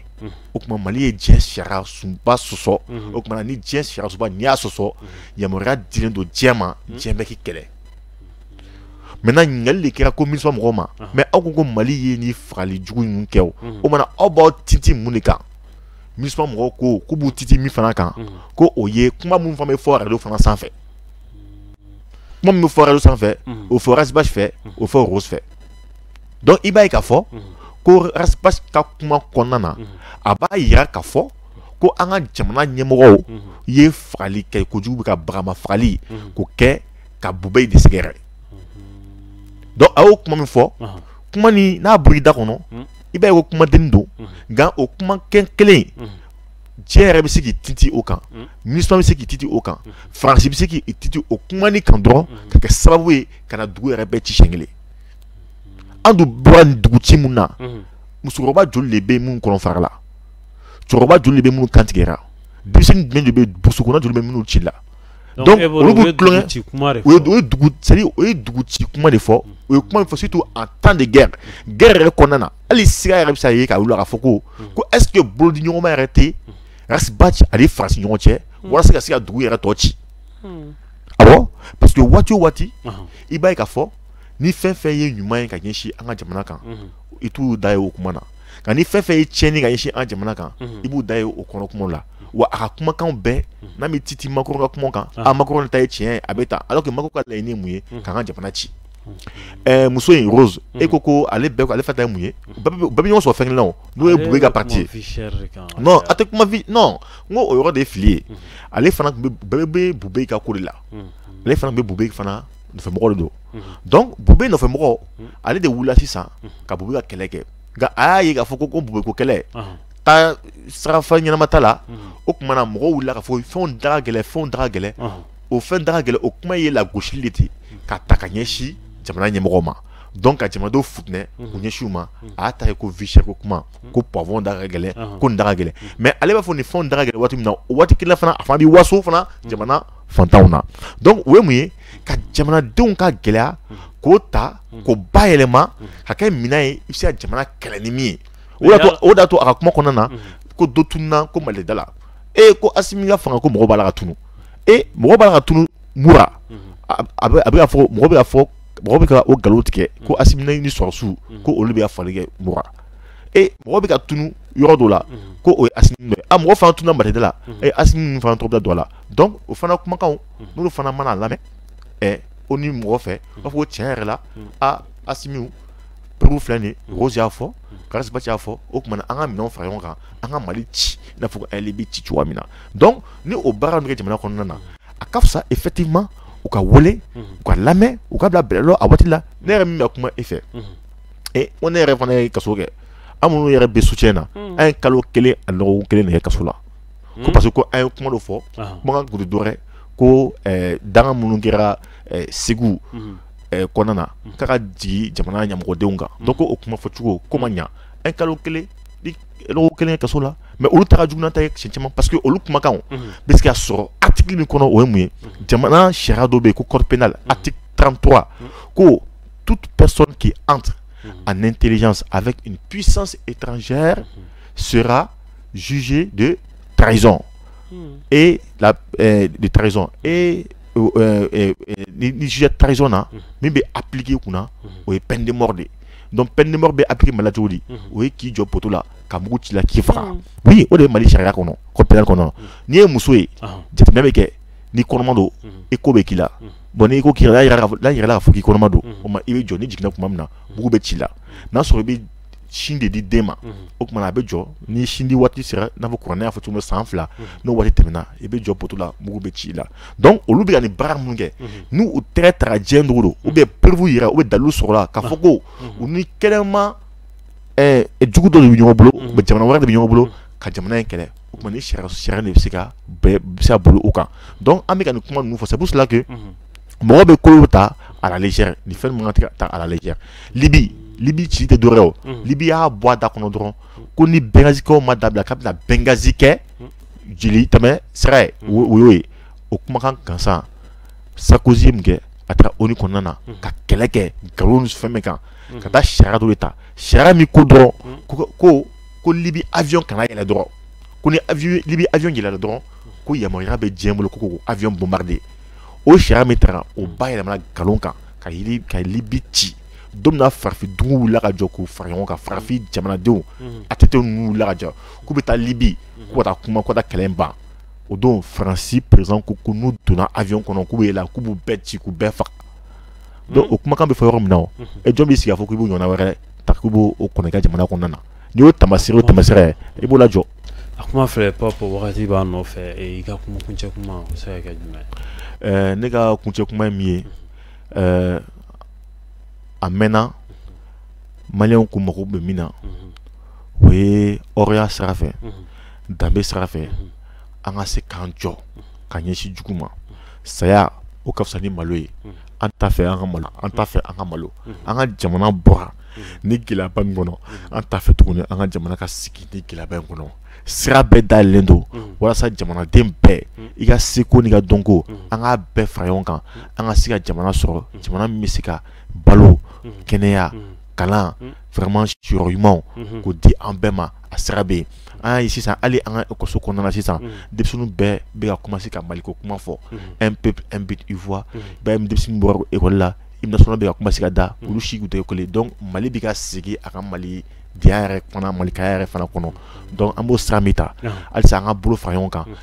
o tuma mali ye diɲɛ sariya sunba sɔsɔ o tuma ni diɲɛ sariya sunba n'i y'a sɔsɔ yamaruya dilen don diɲɛ ma diɲɛ bɛ k'i kɛlɛ maintenant ɲininkali de kɛra ko minisuma mɔgɔw ma mais aw ko ko mali ye ni fagali jugu ninnu kɛ o o mana aw b'aw titi mun de kan minisuma mɔgɔw ko k'u b'u titi min fana kan ko o ye kuma minnu fana bɛ fɔ radio fana sanfɛ kuma min bɛ fɔ radio sanfɛ o fɔ Ras Bath fɛ o fɔ Rose fɛ donc i b'a ye k'a fɔ ko Ras Bath ka kuma kɔnɔna na a b'a jira k'a fɔ ko an ka jamana ɲɛmɔgɔw ye fagali kɛ kojugu bɛ ka bagama fagali k'o kɛ ka bube de sɛgɛrɛ donc a y'o kuma min fɔ kumanin n'a bɔra i da kɔnɔ hmm. i b'a ye ko kumadennin don hmm. nka o kuma kelen hmm. diɲɛ yɛrɛ bɛ se k'i titi o kan minisuma bɛ se k'i titi o kan faransi bɛ se k'i titi o kumanin kan dɔrɔn ka kɛ sababu ye ka na dugu yɛrɛ bɛɛ ci siɲɛ kelen an dun bɔra nin dugu ci mun na musokɔrɔba joli de bɛ minnu kɔnɔ fara la cɛkɔrɔba joli de bɛ minnu kan tigɛra denmisɛnnin jumɛn de bɛ burusi kɔnɔ joli bɛ minnu ci la Donc olu bɛ tulonkɛ c'est à dire o ye dugu ci kuma de fɔ, u ye kuma min fɔ surtout en temps de guerre, guerre yɛrɛ kɔnɔna na hali siga yɛrɛ bɛ se ka ye k'a jira k'a fɔ ko ko est ce que bolodiɲɔgɔnma yɛrɛ tɛ Ras Bath ani Faransi ɲɔgɔn cɛ walasa ka se ka dugu yɛrɛ tɔ ci, unhun, awɔ parce que waati o waati i b'a ye k'a fɔ ni fɛn o fɛn ye ɲuman ye ka ɲɛsin an ka jamana kan, unhun, i t'u da ye o kuma na nka ni fɛn fɛn ye tiɲɛni ka ɲɛsin an ka jamana kan i b'u da ye o kɔnɔ kuma la wa a ka kumakan bɛɛ n'a bɛ titi Macron ka kuma kan a Macron ta ye tiɲɛ ye a bɛ tan alors que Macron ka laɲini ye mun ye k'an ka jamana ci ɛɛ muso in rose e ko ko ale bɛɛ ale fɛta ye mun ye bɛɛ bɛ ɲɔgɔn sɔrɔ fɛn kelen na n'o ye bube ka pati ye non a tɛ kuma fi non n ko o yɔrɔ de ye fili ye ale fana bɛɛ bɛ bube ka ko de la ale fana bɛ bube fana nɔfɛmɔgɔ don donc bube nɔfɛmɔgɔ ale de wulila sisan ka bube ka kɛlɛ kɛ nka a y'a ye k'a fɔ ko ko bube ko kɛlɛ taasira ɲɛnama t'a la o tuma na mɔgɔ wulila k'a fɔ fɛn da gɛlɛn fɛn da gɛlɛn o fɛn da gɛlɛn o kuma ye lagosili de ten k'a ta ka ɲɛsin jamana ɲɛmɔgɔw ma donc ka jamanadenw futɛnɛ k'u ɲɛsin u ma a ta ko vie chère ko kuma ko poivron da gɛlɛn ko da gɛlɛn mais ale b'a fɔ nin fɛn da gɛlɛn waati min na waati kelen fana a fana bɛ waso fana jamana fantanw na donc o ye mun ye ka jamanadenw ka gɛlɛya k'o ta k'o bayɛlɛma ka kɛ minɛn ye i bɛ se ka jamana kɛlɛ ni min ye o d'a to a ka kuma kɔnɔna na ko dɔ tununna ko malida la e ko asimi ka fanga ko mɔgɔ b'a la ka tunu e mɔgɔ b'a la ka tunu mura a bɛ ka fɔ mɔgɔ bɛ ka fɔ mɔgɔ bɛ ka o nkalon tigɛ ko asimi ni sɔrɔdasiw ko olu bɛ ka fali kɛ mura e mɔgɔ bɛ ka tunu yɔrɔ dɔ la ko o ye asimi nɔ ye a mɔgɔ fana tununa malida la e asimi fana tɔgɔ bɛ don a la donc o fana kumakanw n'olu fana mana lamɛn ɛ onu mɔgɔ fɛ b'a fɔ ko tiɲɛ yɛrɛ la a asimiw preuve filɛ nin ye rose y'a fɔ ras bath y'a fɔ o tuma na an ka minɛnw fara ɲɔgɔn kan an ka mali ci i n'a fɔ ko libi ci cogoya min na donc ni o baara nin kɛ jamana kɔnɔna na a ka fisa effectivement u ka wele u ka lamɛn u ka bila bɛlɛlɔ a waati la ne yɛrɛ min bɛ kuma e fɛ e ko ne yɛrɛ fana ye kaso kɛ an minnu yɛrɛ bɛ soutien na an ye kalo kelen ani dɔgɔkun kelen de kɛ kaso la ko hmm? parce que ko an ye kuma dɔ fɔ kumakan kun tɛ dɔwɛrɛ ko eh, danga minnu kɛra eh, segu hmm. eh, kɔnɔna na hmm. k'a ka jigi jamana ɲɛmɔgɔdenw kan donc o kuma fɔcogo ko ma ɲa an kalo kelen ni lɔgɔ kelen kɛ kaso la mais olu ta ka jugu n'an ta ye siɲɛ caman parce que olu kumakanw bɛ se ka sɔrɔ article min kɔnɔ o ye mun ye jamana sariya dɔ bɛ yen ko code pénal article 33 ko toute personne qui entre en intelligence avec une puissance étrangère sera jugé de trahison hmm. et la euh, de trahison et euh, euh, euh ni jugé de trahison na hmm. min bɛ appliquer i kunna hmm. o ye peine de mort de donc peine de mort bɛ appliquer mali la cogo di o ye k'i jɔ poto la ka mugu ci i la k'i faga oui o de ye mali sariya kɔnɔ code pénal kɔnɔ n'i ye muso ye ah. jateminɛ bɛ kɛ n'i kɔnɔma don écho bɛ k'i la bon ni écho k'i la n'a yirala k'a fɔ k'i kɔnɔma don o ma i bɛ jɔ n'i jiginna tuma min na mugu bɛ ci i la n'a sɔrɔ i bɛ sin de di den ma o tuma a bɛ jɔ ni sin di waati sera n'a fɔ kuranɛ y'a fɔ cogo san fila n'o waati tɛmɛna i bɛ jɔ poto la mugu bɛ ci i la donc olu bɛ ka nin baara minnu kɛ n' u tɛgɛ taga diɲɛ dugu don ou bien preuve jira ou bien dalilu sɔrɔla k'a fɔ ko u ni kɛnɛma jugu dɔ de bɛ ɲɔgɔn bolo jamana wɛrɛ de bɛ ɲɔgɔn bolo ka jamana in kɛlɛ o tuma nin sariya de bɛ se ka bɛ se ka boli u kan donc an bɛ ka nin kuma ninnu fɔ c'est pour cela que mɔgɔ bɛ ko dɔ ta à la légère ni fɛn min man kan ka ta à la légère libi libi ci tɛ dɔwɛrɛ libi y'a bɔ a da kɔnɔ dɔrɔn ko ni benghazikaw ma dabila k'a bɛna benghazi kɛ jeli tɛmɛ sira ye o y'o ye o kumakan gansan sarkozy ye mun kɛ a taara onu kɔnɔna na ka kɛlɛ kɛ nkalon ni fɛn min kan ka taa sariya dɔ de ta sariya min ko dɔrɔn ko ko libi awyɔn kana yɛlɛ dɔrɔn ko ni libi awyɔn yɛlɛla dɔrɔn ko yamaruya bɛ diɲɛ bolo ko k'o awyɔn bombarder o sariya min taara o bayɛlɛmana nkalon kan ka libi ci don min na farafin dugu wulila ka jɔ k'u fara ɲɔgɔn kan farafin jamanadenw mhm. ATT ninnu wulila ka jɔ k'u bɛ taa libi mhm. k'u ka taa kuma k'u ka taa kɛlɛ ban o don faransi perezidan ko ko n'u donna avion kɔnɔ k'u bɛ yɛlɛ k'u b'u bɛɛ ci k'u bɛɛ faga donc mhm. o kumakan bɛ fɔ yɔrɔ min na o e jɔn b'i sigi k'a fɔ k'i b'o ɲɔgɔnna wɛrɛ ta k'u b'o o kɔnɔ i ka jamana kɔnɔna na n'i y'o tamasire o tamasire i b'o lajɔ a kuma filɛ pap wagati b'an nɔfɛ eh, i ka kuma kuncɛ kuma o bɛ se ka kɛ jumɛn ye ne ka kuncɛ kuma ye min ye eh, a mɛnna maliyɛnw kun mago bɛ min na mhm. o ye hɔrɔnya sira fɛ mhm. danbe sira fɛ mhm. an ka se k'an jɔ ka ɲɛsin jugu ma saya o ka fisa ni malo ye an t'a fɛ an ka malo an t'a fɛ an ka malo an ka jamana bɔra ni gɛlɛyaba min kɔnɔ an t'a fɛ tuguni an ka jamana ka sigi ni gɛlɛyaba in kɔnɔ sira bɛɛ dayɛlɛlen don walasa jamanaden bɛɛ i ka seko n'i ka dɔnko an k'a bɛɛ fara ɲɔgɔn kan an ka se ka jamana sɔrɔ jamana min bɛ se ka balo kɛnɛya kalan vraiment siyɔrɔ ɲumanw k'o di an bɛɛ ma a sira bɛ yen an y'a ye sisan hali an ka ekɔliso kɔnɔna na sisan denmisɛnninw bɛɛ bɛ ka commencer ka maliko kuma fɔ un peuple un but une foi i b'a ye ni denmisɛnnin bɔra ekɔli la hymne national bɛ ka commencer ka da mm. olu si tun tɛ ekɔli donc mali bɛ ka segin a ka malidenya yɛrɛ fana malikaya yɛrɛ fana kɔnɔ donc an b'o sira min ta halisa an ka bolo fara ɲɔgɔn kan mm.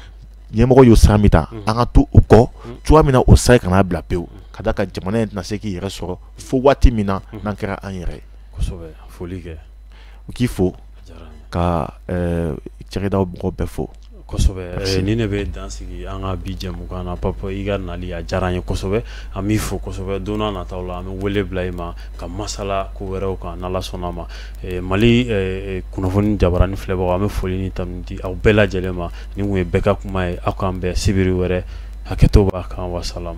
ɲɛmɔgɔ y'o sira min ta mm. an ka to o kɔ cogoya min na o sira kana bila pewu ka d'a kan jamana in tɛna se k'i yɛrɛ sɔrɔ fo waati min na n'an kɛra an yɛrɛ ye kosɛbɛ foli kɛ u k'i fo ka cakɛda mɔgɔw bɛɛ fo kosɛbɛ ni ne bɛ dan sigi an ka bi jɛmukan na pap i ka nali a diyara an ye kosɛbɛ an b'i fo kosɛbɛ don nataw la an bɛ wele bila i ma ka masala ko wɛrɛw kan n'ala sɔnna a ma mali kunnafoni jabaranin filɛbagaw an bɛ foli ni tanu di aw bɛɛ lajɛlen ma nin tun ye bɛɛ ka kuma ye aw k'an bɛn sibiri wɛrɛ hakɛto b'a kan wasalam